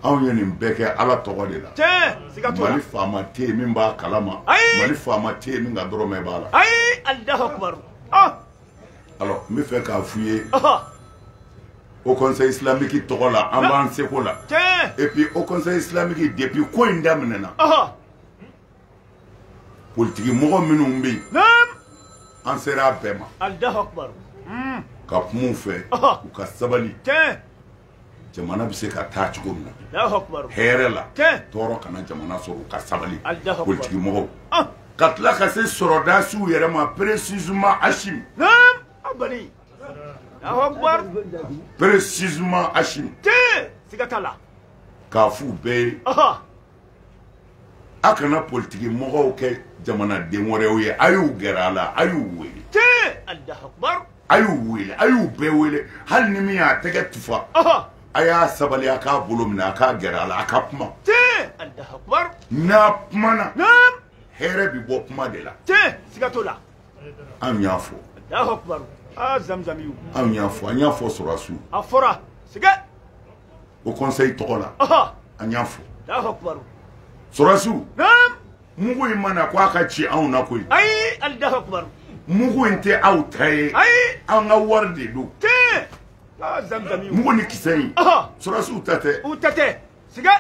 anw ye nin bɛɛ kɛ ala tɔgɔ de la mali faama tɛ yen min b'a kalama mali faama tɛ yen min ka dɔrɔmɛ b'a la ah! alors n b'a fɛ k'a f'u ye haut conseil islamique tɔgɔ la an b'an seko la et puis haut conseil islamique depuis ko in daminɛna politiki mɔgɔ minnu bɛ yen an sera a bɛɛ ma hmm. ka kuma u fɛ u ka sabali jamana bɛ se ka taa cogo min na hɛrɛ la tɔɔrɔ kana jamana sɔrɔ u ka sabali politiki mɔgɔw ah. ka tila ka se sɔrɔdasiw yɛrɛ ma précisément Assimi précisément Assimi k'a f'u bɛɛ ye a kana politiki mɔgɔw kɛ jamanaden wɛrɛw ye a y'u gɛrɛ a la a y'u wele a y'u wele a y'u bɛɛ wele hali ni min y'a tɛgɛ tufa a y'a sabali a k'a bolo minɛ a k'a gɛrɛ a la a ka kuma n'a kumana hɛrɛ bi bɔ kuma de la anw y'a fɔ anw y'a fɔ an y'a fɔ sɔrɔsiw haut conseil tɔgɔ la an y'a fɔ sɔrɔsiw mugu in ma na ko a ka ci anw na koyi ayi allahu akbar mugu in tɛ aw ta ye ayi an ka wari de don ah, mugu ni kisɛ in sɔrɔsiw ta tɛ u ta tɛ siga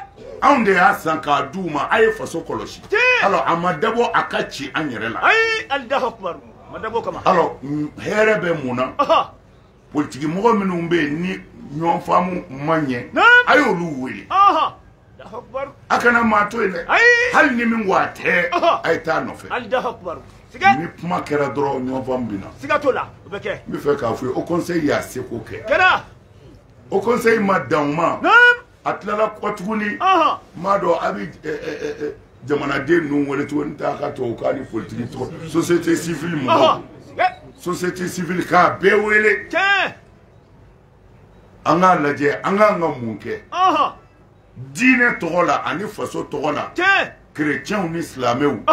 anw de y'a san k'a d'u ma a ye faso kɔlɔsi alors a ma dabɔ a ka ci an yɛrɛ la ayi allahu akbar ma dabɔ kama alors hɛrɛ bɛ mun na politiki mɔgɔ minnu bɛ yen ni ɲɔgɔn faamu ma ɲɛ a y'olu wele a kana maa to yen dɛ hali ni min ko a tɛ a ye taa nɔfɛ ni kuma kɛra dɔrɔn ɲɔgɔn faamu bɛ na siga t'o la o bɛ kɛ n b'a fɛ k'a fɔ ye haut conseil y'a seko kɛ kɛra haut conseil ma dan o ma a tilala kɔ tuguni n m'a dɔn a bɛ jamanaden ninnu wele cogo ni t'a ka tubabukan ni politiki tɔgɔ société civile mɔgɔw société civile k'a bɛɛ wele an k'a lajɛ an kan ka mun kɛ diinɛ tɔgɔ la ani faso tɔgɔ la kerecɛnw ni silamɛw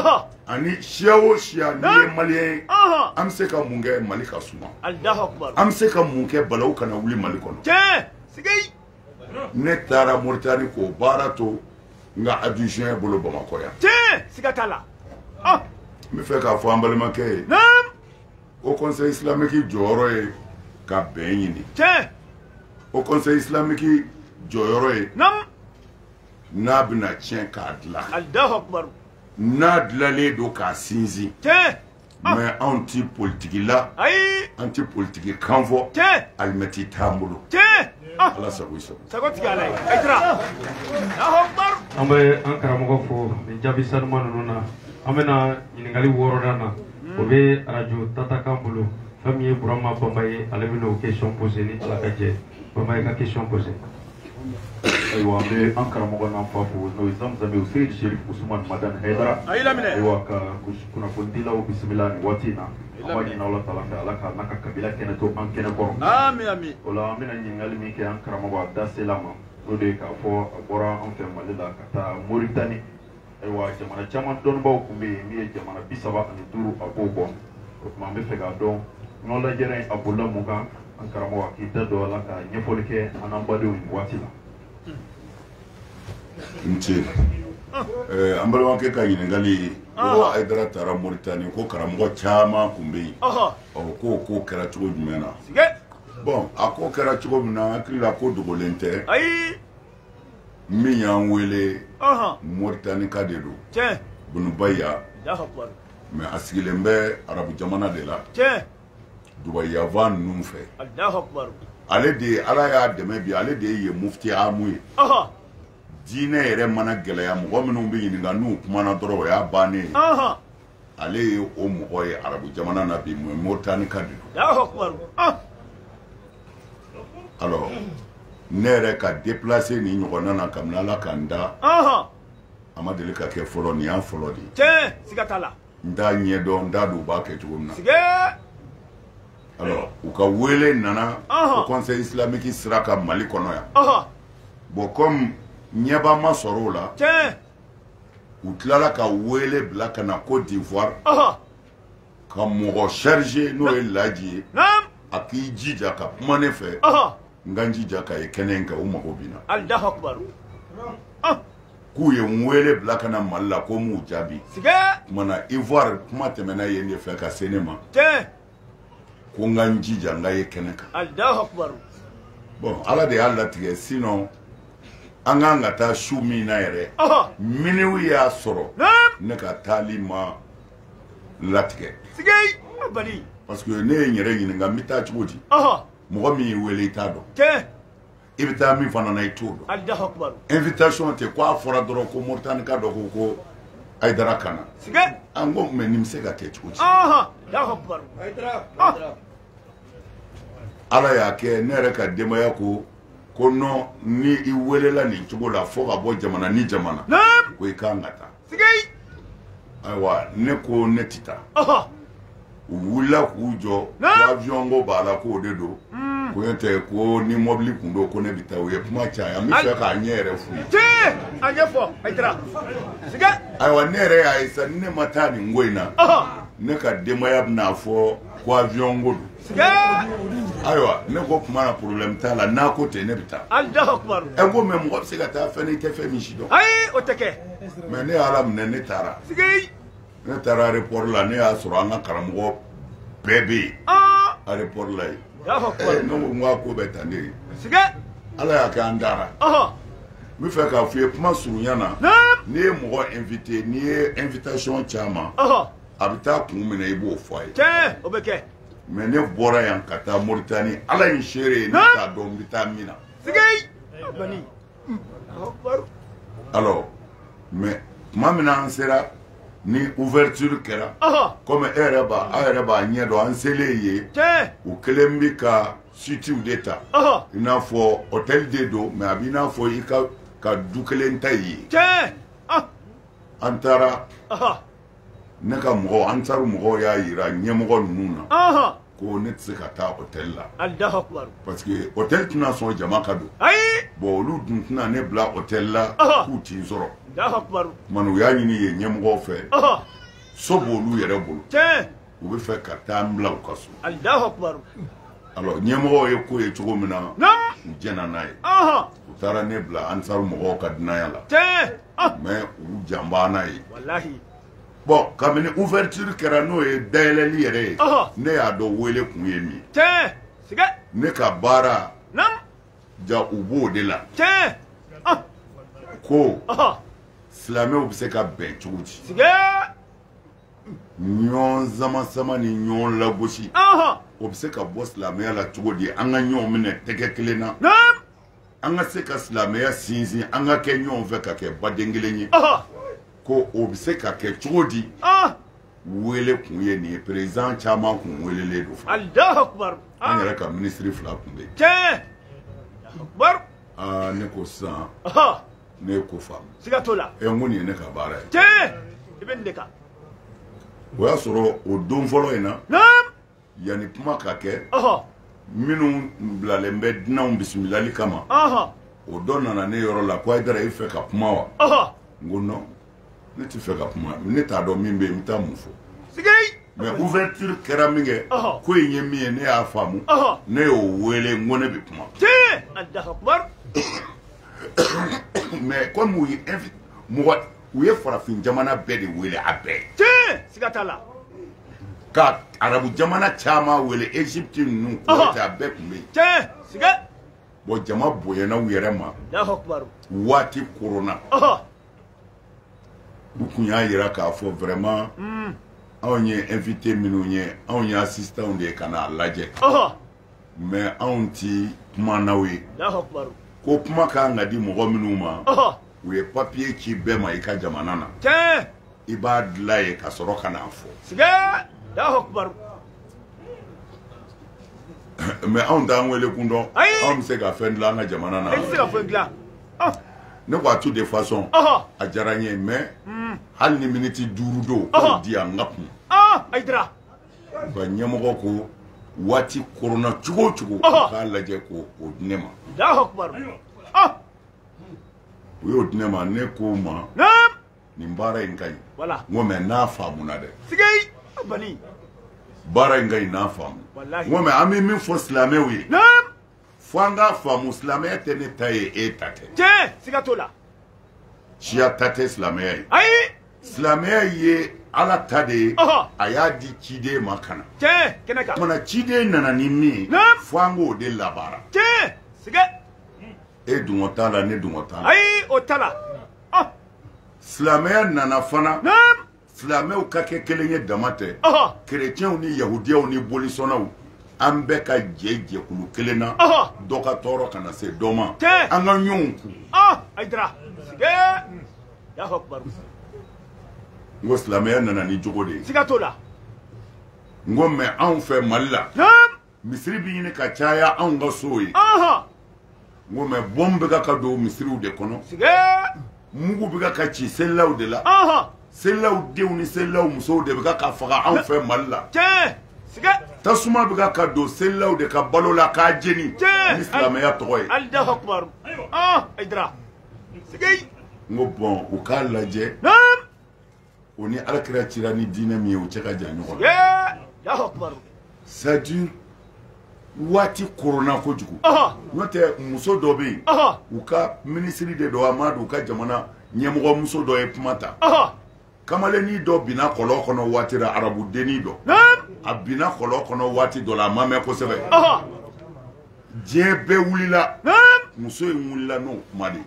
ani siya o siya n'i ye maliyɛn ye an bɛ se ka mun kɛ mali ka suma an bɛ se ka mun kɛ balawu kana wuli mali kɔnɔ ne taara moritani k'o baara to n ka adjoint bolo bamakɔ yan tiɲɛ siga t'a la ah. n b'a fɛ k'a fɔ an balimakɛ ye haut conseil islamique jɔyɔrɔ ye ka bɛn ɲini tiɲɛ haut conseil islamique jɔyɔrɔ ye n'a bɛna tiɲɛ k'a dilan n'a dilalen don k'a sinsin tiɲɛ Ah. mais anw tɛ politigi la an tɛ politigi kan fɔ alimɛti t'an bolo ah. ala sago i sago sago tigi ala ye an bɛ an karamɔgɔ fo nin jaabi sanuma ninnu na an bɛna ɲininkali wɔɔrɔnan na hmm. o bɛ arajo tatakan bolo fɛn min ye burama bamba ye ale bɛna o question poser ni ala ka jɛn bamba ye ka question poser ayiwa an bɛ an karamɔgɔ n'an fa fo n'o ye zamzami aseyid sherif usumani madani hayidara ayiwa ka kunnafonidilaw bisimila nin waati in na an b'a ɲini ala taala fɛ ala k'a n'a ka kabila kɛnɛ to an kɛnɛ kɔrɔ o la an bɛna ɲininkali min kɛ an karamɔgɔ a da sela ma n'o de ye k'a fɔ a bɔra an fɛ mali la ka taa moritani ayiwa jamana caman dɔnnibaaw tun bɛ yen min ye jamana bi saba ani duuru a b'o bɔ o tuma an bɛ fɛ k'a dɔn ɲɔgɔn lajɛrɛ in a bolila mun kan an karamɔgɔ a k'i da don a la ka ɲɛfɔli kɛ an n'an badenw ye nin waati la. n ce eh, an balimakɛ ka ɲininkali ko ayidara taara moritani ko karamɔgɔ caman tun bɛ yen ɔ k'o ko kɛra cogo jumɛn na bon a ko kɛra cogo min na an hakili la ko dogolen tɛ. min y'an wele moritanika de don bunu baya mais a sigilen bɛ arabu jamana de la dubayi yanfan ninnu fɛ ale de ala y'a dɛmɛ bi ale de ye mufti amu ye diinɛ yɛrɛ mana gɛlɛya mɔgɔ minnu bɛ ɲininka n'u kumana dɔrɔn o y'a bannen ye ale ye o mɔgɔ ye arabu jamana na bi mais moritanika de don ah! alors ne yɛrɛ ka déplacer nin ɲɔgɔnna na kabini ala ka n da a ma deli ka kɛ fɔlɔ nin y'a fɔlɔ de ye tiɲɛ siga t'a la n t'a ɲɛdɔn n t'a dɔn u b'a kɛ cogo min na sigee alors u ka wele nana o conseil islamique sira ka mali kɔnɔ yan bon comme ɲɛba ma sɔrɔ o la tiɲɛ u tilala ka wele bila ka na côte d'ivoire ka mɔgɔ chargé n'o ye laji ye a k'i jija ka kuma ne fɛ n ka n jija ka ye kɛnɛ in kan u mago bɛ n na k'u ye n wele bila ka na mali la ko n m'u jaabi kumana ivoire kuma tɛmɛna yen de fɛ ka se ne ma ko n ka n jija n ka ye kɛnɛ kan bon ala de y'a latigɛ sinon an kan ka taa su min na yɛrɛ minuit y'a sɔrɔ ne ka taali ma latigɛ parce que ne ye n yɛrɛ ɲininka n bɛ taa cogo di mɔgɔ min y'i wele i t'a dɔn i bɛ taa min fana na i t'o dɔn invitation tɛ ko a fɔra dɔrɔn ko moritani ka dɔ ko ko ayidara ka na an ko mais nin bɛ se ka kɛ cogo di ah! ala y'a kɛ ne yɛrɛ ka denbaya ko ko non ni i welela nin cogo la fo ka bɔ jamana ni jamana ko i kan ka taa sigi ayiwa ne ko ne tɛ taa u wulila k'u jɔ ko avion ko b'a la k'o de don ko n'o tɛ ko ni mɔbili tun don ko ne bɛ taa u ye kuma caya n bɛ fɛ k'a ɲɛ yɛrɛ f'u ye tiɲɛ a ɲɛfɔ ayidara sigi ayiwa ne yɛrɛ y'a ye sa ni ne ma taa nin ko in na ne ka denbaya bɛna fɔ ko avion ko don ayiwa ne ko kuma na problème t'a la n'a ko ten ne bɛ taa alahu akubaru ɛ ko mais mɔgɔ bɛ se ka taa fɛn n'i tɛ fɛn min si dɔn ayi o tɛ kɛ mais ne y'a laminɛ ne taara sigi ne taara aéroport la ne y'a sɔrɔ an ka karamɔgɔ bɛɛ bɛ yen aéroport la yen ne ko n k'a ko bɛ tan de ye ala y'a kɛ an taara n bɛ fɛ k'a f'i ye kuma surunya na n'i ye mɔgɔ invité n'i ye invitation caman a bɛ taa kun minɛ i b'o fɔ a ye tiɲɛ o bɛ kɛ mais ne bɔra yan ka taa moritani ala ye n seere ye ne t'a dɔn n bɛ taa min na sigi bani alors mais tuma min na an sera ni ouverture kɛra komi e yɛrɛ b'a aw yɛrɛ b'a ɲɛ dɔn an selen yen u kɛlen bɛ ka suitew de ta i n'a fɔ hôtel de don mais a b'i n'a fɔ i ka du kelen ta ye an taara ne ka mɔgɔw ansaru mɔgɔw y'a yira ɲɛmɔgɔ ninnu na ɔhɔn ko ne tɛ se ka taa hôtel la alahu akubaru parce que hôtel tɛna sɔn jama ka don ayi bon olu dun tɛna ne bila hôtel la Ɔhɔ. k'u tɛ n sɔrɔ alahu akubaru kuma na u y'a ɲini yen ɲɛmɔgɔw fɛ ɔhɔn so b'olu yɛrɛ bolo tiɲɛ u bɛ fɛ ka taa n bila u ka so alahu akubaru alors ɲɛmɔgɔw ye ko ye cogo min na u jɛnna n'a ye u taara ne bila ansaru mɔgɔw ka dunanya la ah. mais u janba n'a ye bon kabini ouverture kɛra n'o ye dayɛlɛli yɛrɛ ye ne y'a dɔn wele kun ye min ne ka baara ja u b'o de la ah. ko silamɛw bɛ se ka bɛn cogo di ɲɔgɔn samasama ni ɲɔgɔn lagosi o bɛ se ka bɔ silamɛya la cogo di an ka ɲɔgɔn minɛ tɛgɛ kelen na an ka se ka silamɛya sinsin an ka kɛ ɲɔgɔn fɛ ka kɛ baden kelen ye ko o bɛ se ka kɛ cogo di wele kun ye nin ye président caman kun welelen don fa an yɛrɛ ka minisiri fila kun bɛ yen ne ko sisan ne ye ko faamu siga t'o la ɛ n ko nin ye ne ka baara ye tiɲɛ i bɛ nin de kan o y'a sɔrɔ o don fɔlɔ in na naam yanni kuma ka kɛ ɔhɔ minnu bilalen bɛ dunanw bisimilali kama ɔhɔ o dɔ nana ne yɔrɔ la ko ayidara i fɛ ka kuma wa ɔhɔ n ko non ne tɛ fɛ ka kuma ne t'a dɔn min bɛ yen n bɛ taa mun fɔ mais ouverture kɛra min kɛ ko in ye min ye ne y'a faamu ne y'o wele n ko ne bɛ kuma mais komi u ye mɔgɔ u ye farafin jamana bɛɛ de wele a bɛɛ siga t'a la ka arabu jamana caman wele egypte ninnu kuwait a bɛɛ kun bɛ yen siga bon jama bonyana u yɛrɛ ma waati koronna u kun y'a yira k'a fɔ vraiment hmm. anw ye invité minnu ye anw ye assistants de ye ka n'a lajɛ mais anw ti kumanaw ye ko kuma ka kan ka di mɔgɔ minnu ma u ye papiye ci bɛɛ ma i ka jamana na i b'a dilan yen ka sɔrɔ ka n'a fɔ mais anw t'an wele kun dɔn anw bɛ se ka fɛn dilan an ka jamana na ah. ne ko a tout de façon a diyara n ye mais hmm. hali ni miniti duuru don k'o di yan n ka kuma ayidara u ka ɲɛmɔgɔ ko waati koronna cogo o cogo u k'a lajɛ k'o di ne ma ah. u y'o di ne ma ne k'o ma nin baara in ka ɲi n ko mais n'a faamuna dɛ baara in ka ɲi n'a faamu n ko mais an bɛ min fɔ silamɛw ye fo an k'a faamu silamɛya tɛ ne ta ye e ta tɛ tiɲɛ siga t'o la siya ta tɛ silamɛya ye ayi silamɛya ye ala ta de ye a y'a di ciden ma ka na tiɲɛ kɛnɛ kan kumana ciden nana ni min ye fo an k'o de labaara tiɲɛ siga e dungɔ t'a la ne dungɔ t'a la ayi o t'a la silamɛya nana fana silamɛw ka kɛ kelen ye dama tɛ kerecɛnw ni yahudiyaw ni bolisɔnnaw an bɛɛ ka jɛ jɛkulu kelen na dɔ ka tɔɔrɔ kana se dɔ ma an ka ɲɔgɔn kun ayidara n ko silamɛya nana ni jogo de ye siga t'o la n ko mais anw fɛ mali la misiri bɛ ɲini ka caya anw ka sow ye n ko mais bombe bɛ ka ka don misiriw de kɔnɔ mugu bɛ ka ka ci selilaw de la selilaw denw ni selilaw musow de bɛ ka ka faga anw fɛ mali la tasuma bɛ ka ka don selilaw de ka balo la k'a jeni ni silamɛya tɔgɔ ye n ko bon u k'a lajɛ o ni alakira cira ni diinɛ min ye o cɛ ka jan ɲɔgɔn na c'est-à-dire waati koronna kojugu n'o tɛ muso dɔ bɛ yen u ka minisiri de don a ma dɔn u ka jamana ɲɛmɔgɔ muso dɔ ye kuma ta kamalennin dɔ binna kɔlɔn kɔnɔ waati la arabu dennin dɔ a binna kɔlɔn kɔnɔ waati dɔ la a ma mɛn kosɛbɛ diɲɛ bɛɛ wulila muso in wulila n'o kuma de ye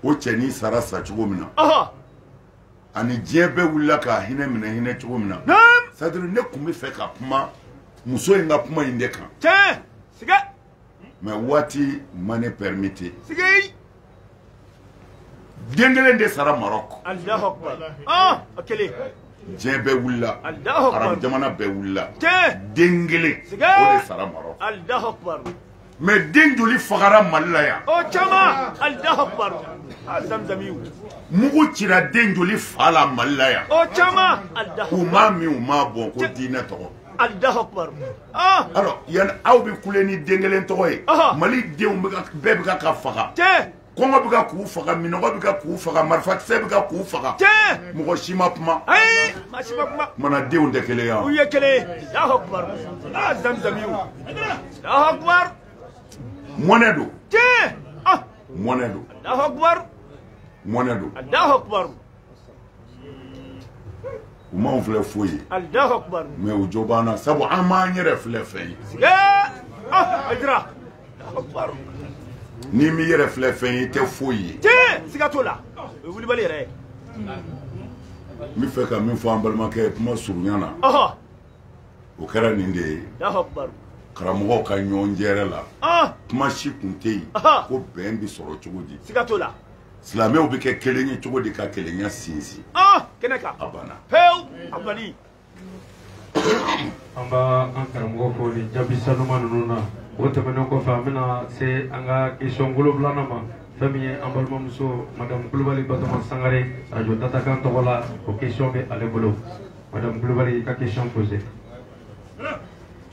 o cɛnin sara sa cogo min na ani diɲɛ bɛɛ wulila k'a hinɛ minɛ hinɛ cogo min na c'est-à-dire ne tun bɛ fɛ ka kuma muso in ka kuma in de kan tiɲɛ siga mais waati ma ne pɛrimite siga den kelen de sara marɔk alahu akubar ah o kelen diɲɛ bɛɛ wulila arabu jamana bɛɛ wulila den kelen o de sara marɔk alahu akubar mais den joli fagara mali la yan o caman alahu akubaru a zamzamiw mugu cira den joli fa la mali la yan o caman alahu u m'a min u m'a bɔn ko diinɛ tɔgɔ alahu akubaru alors yan aw bɛ kule ni den kelen tɔgɔ ye mali denw bɛɛ bɛ ka ka faga kɔngɔ bɛ ka k'u faga minɔgɔ bɛ ka k'u faga marifakisɛ bɛ ka k'u faga mɔgɔ si ma kuma mana denw tɛ kelen yan u ye kelen mɔnɛ don mɔnɛ don mɔnɛ don u m'anw filɛ foyi ye mɛ u jo b'an na sabu an m'an yɛrɛ filɛ fɛn ye ah, n'i m'i yɛrɛ filɛ fɛn ye i tɛ foyi ye tiɲɛ siga t'o la o ye wulibali yɛrɛ ye n bɛ fɛ ka min fɔ an balimakɛ kuma surunya na o kɛra nin de ye karamɔgɔw ka ɲɔgɔn jɛrɛ la kuma si tun tɛ yen ko bɛn bɛ sɔrɔ cogo di siga t'o la silamɛw bɛ kɛ kelen ye cogo di ka kelenya sinsin ah, kɛnɛ kan a banna pewu a banni an b'a an karamɔgɔ fo nin jaabi sanuma ninnu na o tɛmɛnen kɔfɛ an bɛna se an ka kesɔn wolonwulanan ma fɛn min ye an balimamuso madamu kulubali batoma sangare arajo tatakan tɔgɔ la o kesɔn bɛ ale bolo madamu kulubali ka kesɔn pose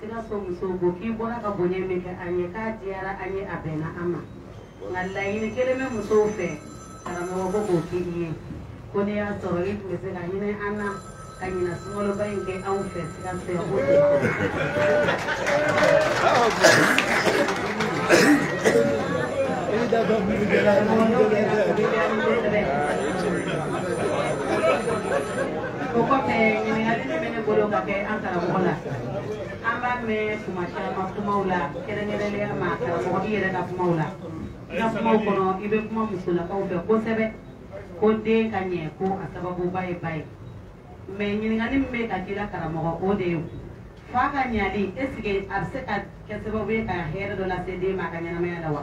sikaso musow ko k'i bɔra ka bonya min kɛ an ye k'a diyara an ye a bɛnna an ma nka laɲini kelen bɛ musow fɛ karamɔgɔ ko k'o k'i ye ko n'a y'a sɔrɔ i tun bɛ se ka hinɛ an na ka ɲinan sunkaloba in kɛ anw fɛ sikaso yan ko o kɔfɛ ɲininkali min bɛ ne bolo ka kɛ an karamɔgɔ la an b'a mɛn tuma caman kumaw la kɛrɛnkɛrɛnnenya ma karamɔgɔ i yɛrɛ ka kumaw la i ka kumaw kɔnɔ i bɛ kuma musolakaw fɛ kosɛbɛ ko den ka ɲɛ ko a sababuba ye ba ye mɛ ɲininkali min bɛ ka k'i la karamɔgɔ o de ye fa ka ɲali esike a bɛ se ka kɛ sababu ye ka hɛrɛ dɔ lase den ma a ka ɲɛnamaya la wa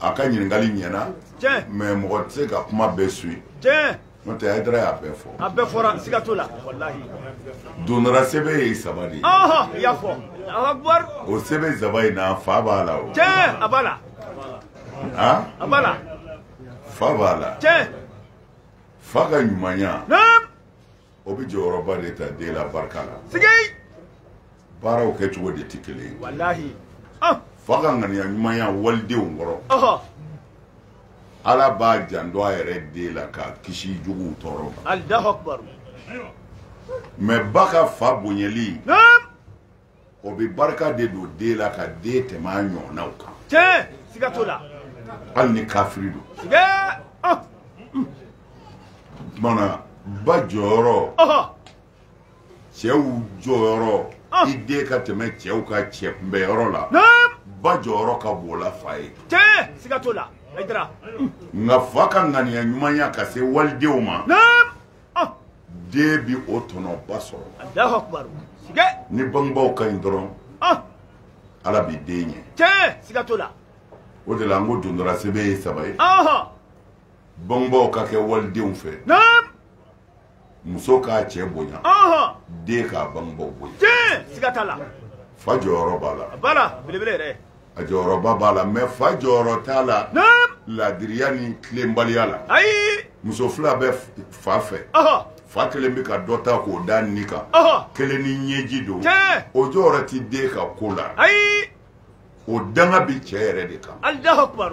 a ka ɲininkali ɲɛna mɛ mɔgɔ tɛ se ka kuma bɛɛ suivi n'o tɛ hayidara y'a bɛɛ fɔ a bɛɛ fɔra siga t'o la walahi dondara sɛbɛn ye saba de ye i y'a fɔ alakubar o sɛbɛn saba in na fa b'a la o tiɲɛ a b'a la a b'a la fa b'a la tiɲɛ fa ka ɲumanya o bɛ jɔyɔrɔba de ta den la barika la sigi baaraw kɛcogo de tɛ kelen ye walahi ah. fa ka ŋaniya ɲumanya walidenw kɔrɔ ala b'a janto a yɛrɛ den la k'a kisi juguw tɔɔrɔ ma mɛ ba ka fa bonyali o bɛ barika de don den la ka den tɛmɛ a ɲɔgɔnnaw kan. tiɲɛ siga t'o la. hali ni kafiri don. siga ɔ. mana ba jɔyɔrɔ. cɛw jɔyɔrɔ. i den ka tɛmɛ cɛw ka cɛ kunbɛnyɔrɔ la. ba jɔyɔrɔ ka bon la fa ye. tiɲɛ siga t'o la. nka fa ka ŋaniya ɲumanya ka se walidenw ma. ah. den bi o tɔnɔba sɔrɔ alahu akubaru siga ni bangebaaw ka ɲi dɔrɔn ah. ala bi den ɲɛ tiɲɛ siga t'o la o de la n ko dondora sɛbɛ ye saba ye bangebaaw ka kɛ walidenw fɛ muso k'a cɛ bonya den k'a bangebaaw bonya fa jɔyɔrɔ b'a la a jɔyɔrɔba b'a la mais fa jɔyɔrɔ t'a la laadiriya ni tilenbaliya la ayi muso fila bɛ fa fɛ fa kelen bɛ ka dɔ ta k'o da nin kan kelen ni ɲɛji don o jɔyɔrɔ ti den ka ko la ayi o danga bi cɛ yɛrɛ de kan alahu akubar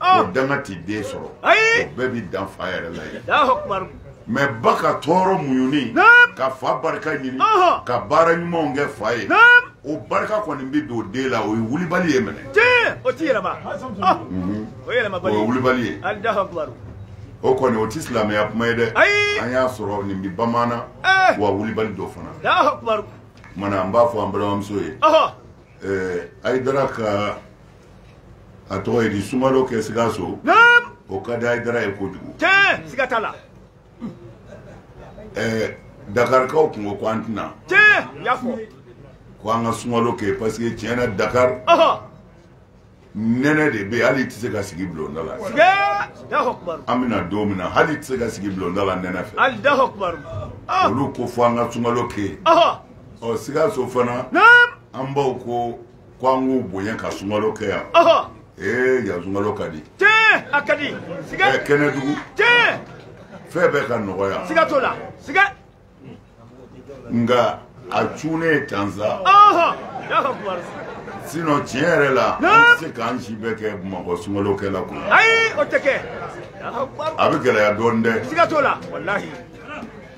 o danga ti den sɔrɔ ayi o bɛɛ bi dan fa yɛrɛ la ye alahu akubar mais ba ka tɔɔrɔ muɲuni ka fa barika ɲini ka baara ɲumanw kɛ fa ye o barika kɔni bɛ don den la o ye wulibali ye minɛ o ti yɛlɛma mhm. o ye yɛlɛmabali o ye wulibali ye o kɔni o ti silamɛya kuma ye dɛ an y'a sɔrɔ nin bi bamana eh. wa wulibali dɔ fana mana an b'a fɔ an balimamuso ye eh, ayidara ka a tɔgɔ ye di sumalo kɛ sikaso o ka di ayidara ye kojugu tiɲɛ siga t'a la ɛɛ dakarikaw tun ko ko an tɛna tiɲɛ y'a fɔ ko an ka sumalo kɛ parce que tiɲɛ na dakari nɛnɛ de bɛ yen hali i tɛ se ka sigi bulonda la an bɛna don min na hali i tɛ se ka sigi bulonda la nɛnɛ fɛ olu ko fo an ka sumalo kɛ yen ɔ sikaso fana an baw ko ko an k'u bonya ka sumalo kɛ yan ee yan sumalo ka di tiɲɛ a ka di siga ɛ kɛnɛdugu tiɲɛ fɛn bɛɛ ka nɔgɔya siga t'o la siga nka a cunnen tan sa sinon tiɲɛ yɛrɛ la an tɛ se k'an si bɛɛ kɛ bamakɔ sumalo kɛla kun ayi o tɛ kɛ a bɛ gɛlɛya dɔɔnin dɛ siga t'o la walahi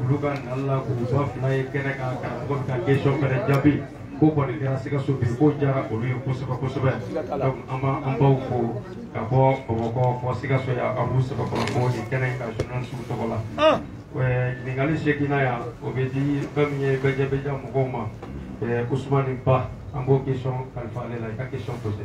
olu ka nali la k'u ba fila ye kɛnɛ kan karamɔgɔ bɛ ka question fɛnɛ jaabi ko kɔni kɛra sikaso bi k'o diyara olu ye kosɛbɛ kosɛbɛ donc an b'an baw fo ka bɔ bamakɔ fo sikaso yan a b'u sɛbɛkɔrɔ fo nin kɛnɛ in ka journalistew tɔgɔ la ɲininkali seginna yan o bɛ di fɛn min ye média mɔgɔw ma usumani ba an b'o question kalifa ale la i ka question posé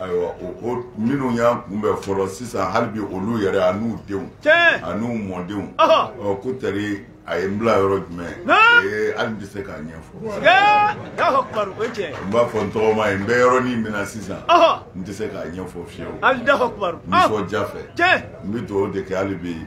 ayiwa minnu y'an kunbɛn fɔlɔ sisan hali bi olu yɛrɛ a n'u denw a n'u mɔdenw ko tari a ye n bila yɔrɔ jumɛn ee hali n tɛ se k'a ɲɛfɔ n b'a fɔ n tɔgɔma ye n bɛ yɔrɔnin min na sisan n tɛ se k'a ɲɛfɔ fiyewu nisɔndiya fɛ n bɛ dugawu de kɛ hali bi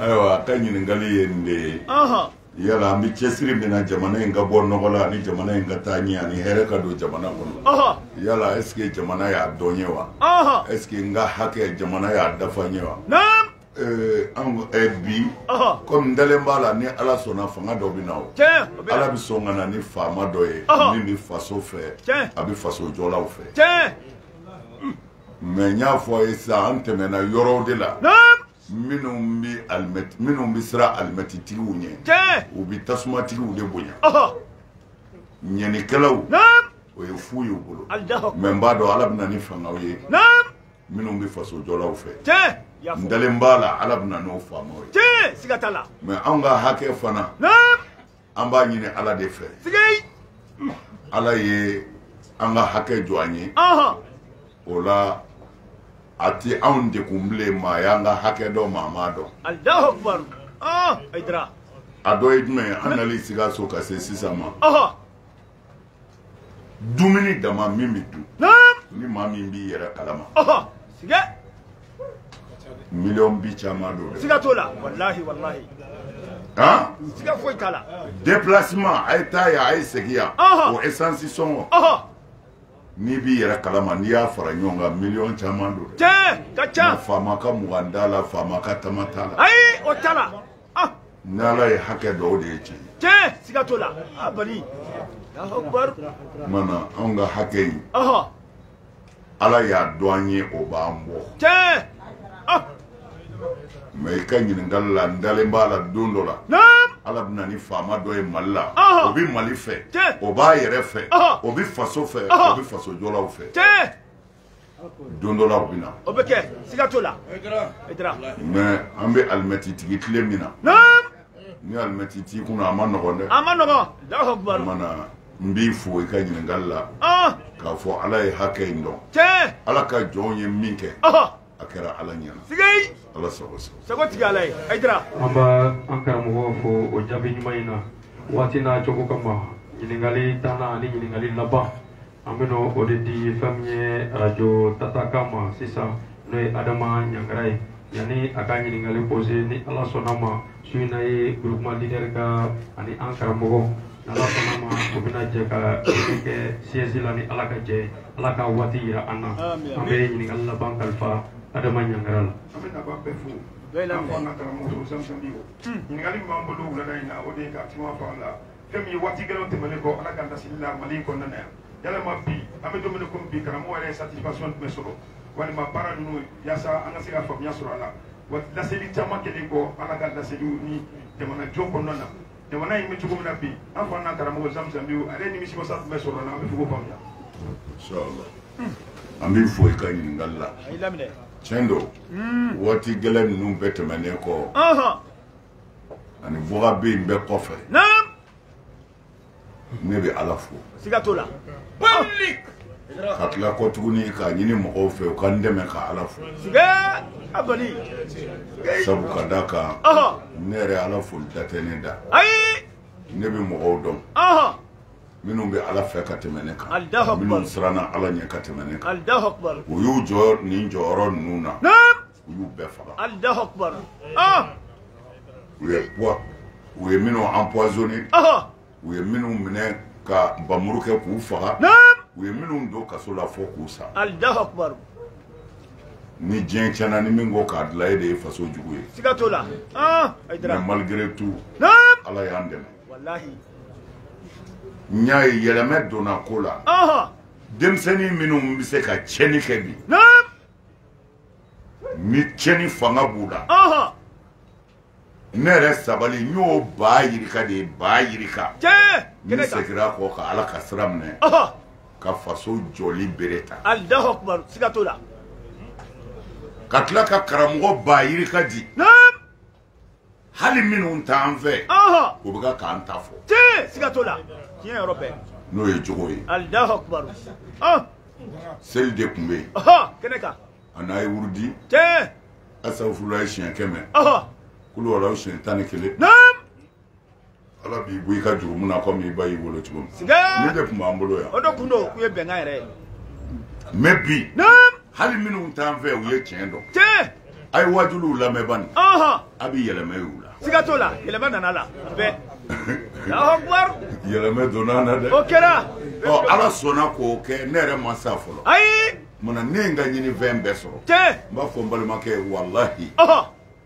ayiwa a ka ɲininkali ye nin de ye yala an bɛ cɛsiri min na jamana in ka bɔ nɔgɔ la ani jamana in ka taa ɲɛ ani hɛrɛ ka don jamana kɔnɔ yala est-ce que jamana y'a dɔn n ye wa est-ce que n ka hakɛ jamana y'a dafa n ye wa Eh, an ko eh, bi komi n dalen b'a la ni ala sɔnna fanga dɔ bɛ na o ala bɛ sɔn ka na ni faama dɔ ye min bɛ faso fɛ a bɛ faso jɔlaw fɛ mais n y'a fɔ a ye sisan an tɛmɛna yɔrɔw de la minnu bɛ alimɛti minnu bɛ siran alimɛtitigiw ɲɛ u bɛ tasumatigiw de bonya ɲɛnikɛlaw o ye fu y'u bolo mais n b'a dɔn ala bɛ na ni fangaw ye minnu bɛ fasojɔlaw fɛ n dalen b'a la ala bɛna n'o faamaw ye siga t'a la mais anw ka hakɛ fana an b'a ɲini ala de fɛ ala ye an ka hakɛ jɔ an ye o la a tɛ anw degun bilen maa y'an ka hakɛ dɔn maa m'a dɔn a dɔ ye jumɛn ye an nali sikaso ka se sisan ma dumuni dama min bɛ dun ni maa min b'i yɛrɛ kalama sigɛ miliyɔn bi caman don dɛ siga t'o la walahi walahi han siga foyi t'a la déplacement a ye taa yan a ye segin yan o essence sɔngɔ n'i b'i yɛrɛ kalama n'i y'a fara ɲɔgɔn kan miliyɔn caman don dɛ tiɲɛ ka ca faama ka mugan t'a la faama ka tama t'a la ayi o t'a la ah ni ala ye hakɛ dɔn o de ye tiɲɛ ye tiɲɛ siga t'o la a bali mana anw ka hakɛ in ala y'a dɔn an ye o b'an bɔ tiɲɛ ah. mais i ka ɲininkali la n dalen b'a la don dɔ la ala bɛna ni faama dɔ ye mali la o bɛ mali fɛ o b'a yɛrɛ fɛ o bɛ faso fɛ o bɛ faso jɔlaw fɛ don dɔ la o bɛ na. o bɛ kɛ siga t'o la. Haïdara. Haïdara. mais an bɛ alimɛtitigi tile min na. naam. ni alimɛti t'i kun a man nɔgɔn dɛ. a man nɔgɔn. dawusu kubaru. o ma na n b'i fo i ka ɲininkali la. Ah. k'a fɔ ala ye hakɛ in dɔn. tiɲɛ. ala ka jɔnw ye min kɛ. a kɛra ala ɲɛna. sigi. ala sago sago. sago tigi ala ye. Haïdara. an b'an karamɔgɔ fo o jaabi ɲuman in na waati n'a cogo kama ɲininkali tannan ani ɲininkali laban. an bɛna o de di fɛn min ye arajo tatakan ma sisan n'o ye adama ɲangara ye yanni a ka ɲininkali pose ni ala sɔnna ma su in na ye groupement leader ka ani an karamɔgɔ n'ala sɔnna ma o bɛna jɛ ka kɛ siège la ni ala ka jɛ ye ala ka waati yira an na an bɛ ɲininkali laban kalifa adama ɲangara la an bɛ nafa bɛɛ fo an fa an ka karamɔgɔ zamzamiw ɲininkali min b'an bolo wulada in na o de ye ka kuma fɔ an la fɛn min ye waati gɛlɛnw tɛmɛnen kɔ ala ka laseli la mali in kɔnɔna na yan yalama bi an bɛ don min komi bi karamɔgɔ yɛrɛ ye satisfaction jumɛn sɔrɔ walima baara ninnu yaasa an ka se ka faamuya sɔrɔ a la wa laseli caman kɛlen kɔ ala ka laseliw ni jamana jɔ kɔnɔna na jamana in bɛ cogo min na bi an fa n'an karamɔgɔ zamzamiw ale nimisiwasa jumɛn sɔrɔ a la an b'a fɛ k'o faamuya inchallah. an b'i fo i ka ɲininkali la tiɲɛ don waati gɛlɛn ninnu bɛɛ tɛmɛnen kɔ ani voga bɛ yen bɛɛ kɔfɛ ne bɛ ala fo siga t'o la ka tila kɔ tuguni k'a ɲini mɔgɔw fɛ u ka n dɛmɛ ka ala fo sabu ka da kan ne yɛrɛ ala foli da tɛ ne da ne bɛ mɔgɔw dɔn minnu bɛ ala fɛ ka tɛmɛ ne kan minnu siranna ala ɲɛ ka tɛmɛ ne kan u y'u jɔ nin jɔyɔrɔ ninnu na u y'u bɛɛ faga alahu akubar u ye puwa u ye minnu empoisonné u ye minnu minɛ ka bamuru kɛ k'u faga u ye minnu don kaso la fo k'u sa alahu akubar ni diɲɛ tiɲɛna ni min ko k'a dilan e de ye faso jugu ye siga t'o la mais malgré tout ala y'an dɛmɛ walahi n y'a ye yɛlɛmɛ donna ko la denmisɛnnin minnu bɛ se ka tiɲɛni kɛ bi ni tiɲɛni fanga b'u la ne yɛrɛ sabali n y'o baa yirika de ye baa yirika ne segira kɔ ka ala ka sira minɛ ka faso jɔli bere ta alahu akubaru siga t'o la ka tila ka karamɔgɔba yirika di hali minnu t'an fɛ u bɛ ka k'an ta fɔ tiɲɛ siga t'o la tiɲɛ yɔrɔ bɛɛ n'o ye jogo ye alahu akubaru seli de tun bɛ yen kɛnɛ kan an'a ye wurudi tiɲɛ asafurulayi siɲɛ kɛmɛ kuluwalaw siɲɛ tan ni kelen ala b'i bɔ i ka jurumu na komi i ba y'i wolo cogo min nin de tun b'an bolo yan o de kun don k'u ye bɛnkan yɛrɛ ye mais bi hali minnu t'an fɛ u ye tiɲɛ dɔn tiɲɛ a ye wajuliw lamɛn bani a bɛ yɛlɛmɛ y'u la siga t'o la yɛlɛmɛ nana la bɛɛ alahuwakubaru yɛlɛmɛ donna na dɛ o kɛra ɔ ala sɔnna k'o kɛ ne yɛrɛ ma sa fɔlɔ ayi munna ne ye n ka ɲinifɛn bɛɛ sɔrɔ tiɲɛ n b'a fɔ n balimakɛ walahi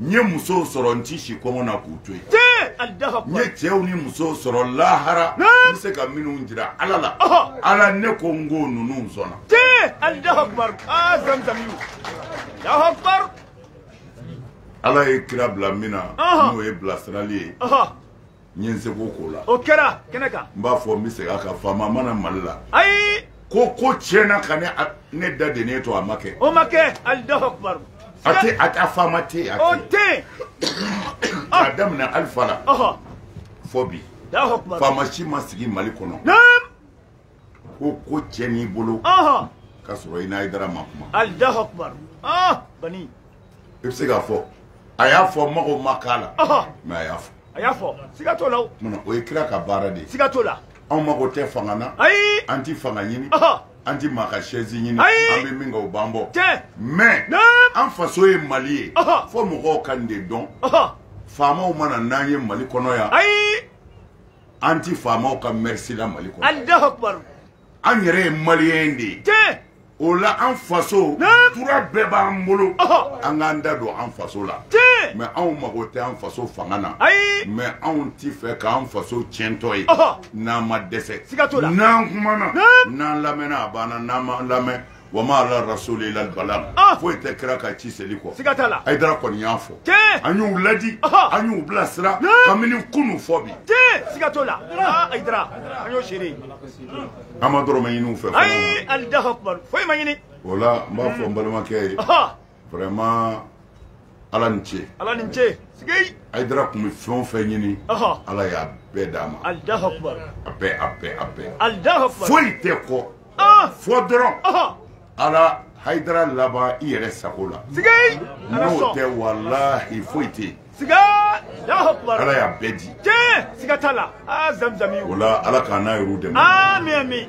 n ye musow sɔrɔ n ti si kɔngɔ na k'u to yen n ye cɛw ni musow sɔrɔ lahara n bɛ se ka minnu jira ala la ala ne ko n ko ninnu sɔnna ala ye kira bila min na n'o ye bilasirali ye n ye n seko k'o la o kɛra kɛnɛ kan n b'a fɔ n bɛ segin a kan faama ma na mali la ayi ko ko tiɲɛna ka ne da dennen to a ma kɛ o ma kɛ alahu akubaru a tɛ a tɛ faama tɛ yen o tɛ yen k'a daminɛ alifa la fɔ bi faama si ma sigi mali kɔnɔ ko ko tiɲɛn'i bolo ka sɔrɔ i n'ayidara ma kuma alahu akubar bani i bɛ se k'a fɔ a y'a fɔ mago ma k'a la mɛ a y'a fɔ a y'a fɔ siga t'o la o munna o ye kira ka baara de ye siga t'o la anw mago tɛ fanga na ayi an ti fanga ɲini an ti maa ka sɛzi ɲini an bɛ min kɛ o b'an bɔ mɛ an faso ye mali ye fo mɔgɔw ka nin de dɔn faamaw ma na n'an ye mali kɔnɔ yan ayi an ti faamaw ka mɛrisi la mali kɔnɔ alahu akubar an yɛrɛ ye maliyɛn de ye tiɲɛ o la an faso Naam. droit bɛɛ b'an bolo Ɔhɔ. an k'an da don an faso la tiɲɛ mɛ anw mago tɛ an faso fanga na ayi mɛ anw ti fɛ k'an faso tiɲɛtɔ ye Ɔhɔ. n'an ma dɛsɛ Siga t'o la. n'an kumana Naam. n'an lamɛnna a banna n'an ma lamɛn wa ma ala rasuli ila balagu ah! foyi tɛ kira ka ci seli kɔ siga t'a la ayidara kɔni y'a fɔ an y'u ladi an y'u bilasira kabini kunu fɔ bi siga t'o la ah, ayidara an y'o seere an ma dɔrɔmɛ ɲini u fɛ ayi alahu akubaru foyi ma ɲini o la n b'a fɔ n balimakɛ ye vraiment ala ni ce ala ni ce sigei ayidara tun bɛ fɛn o fɛn ɲini ala y'a bɛɛ d'a ma alahu akubar a bɛɛ a bɛɛ a bɛɛ alahu akubar foyi tɛ kɔ fɔ dɔrɔn ala hayidara laban i yɛrɛ sago la sigei n'o tɛ walahi foyi tɛ yen siga alahu akubar ala y'a bɛɛ di tiɲɛ siga t'a la aa zamzami o la ala k'an n'a yɛrɛw dɛmɛ ami ami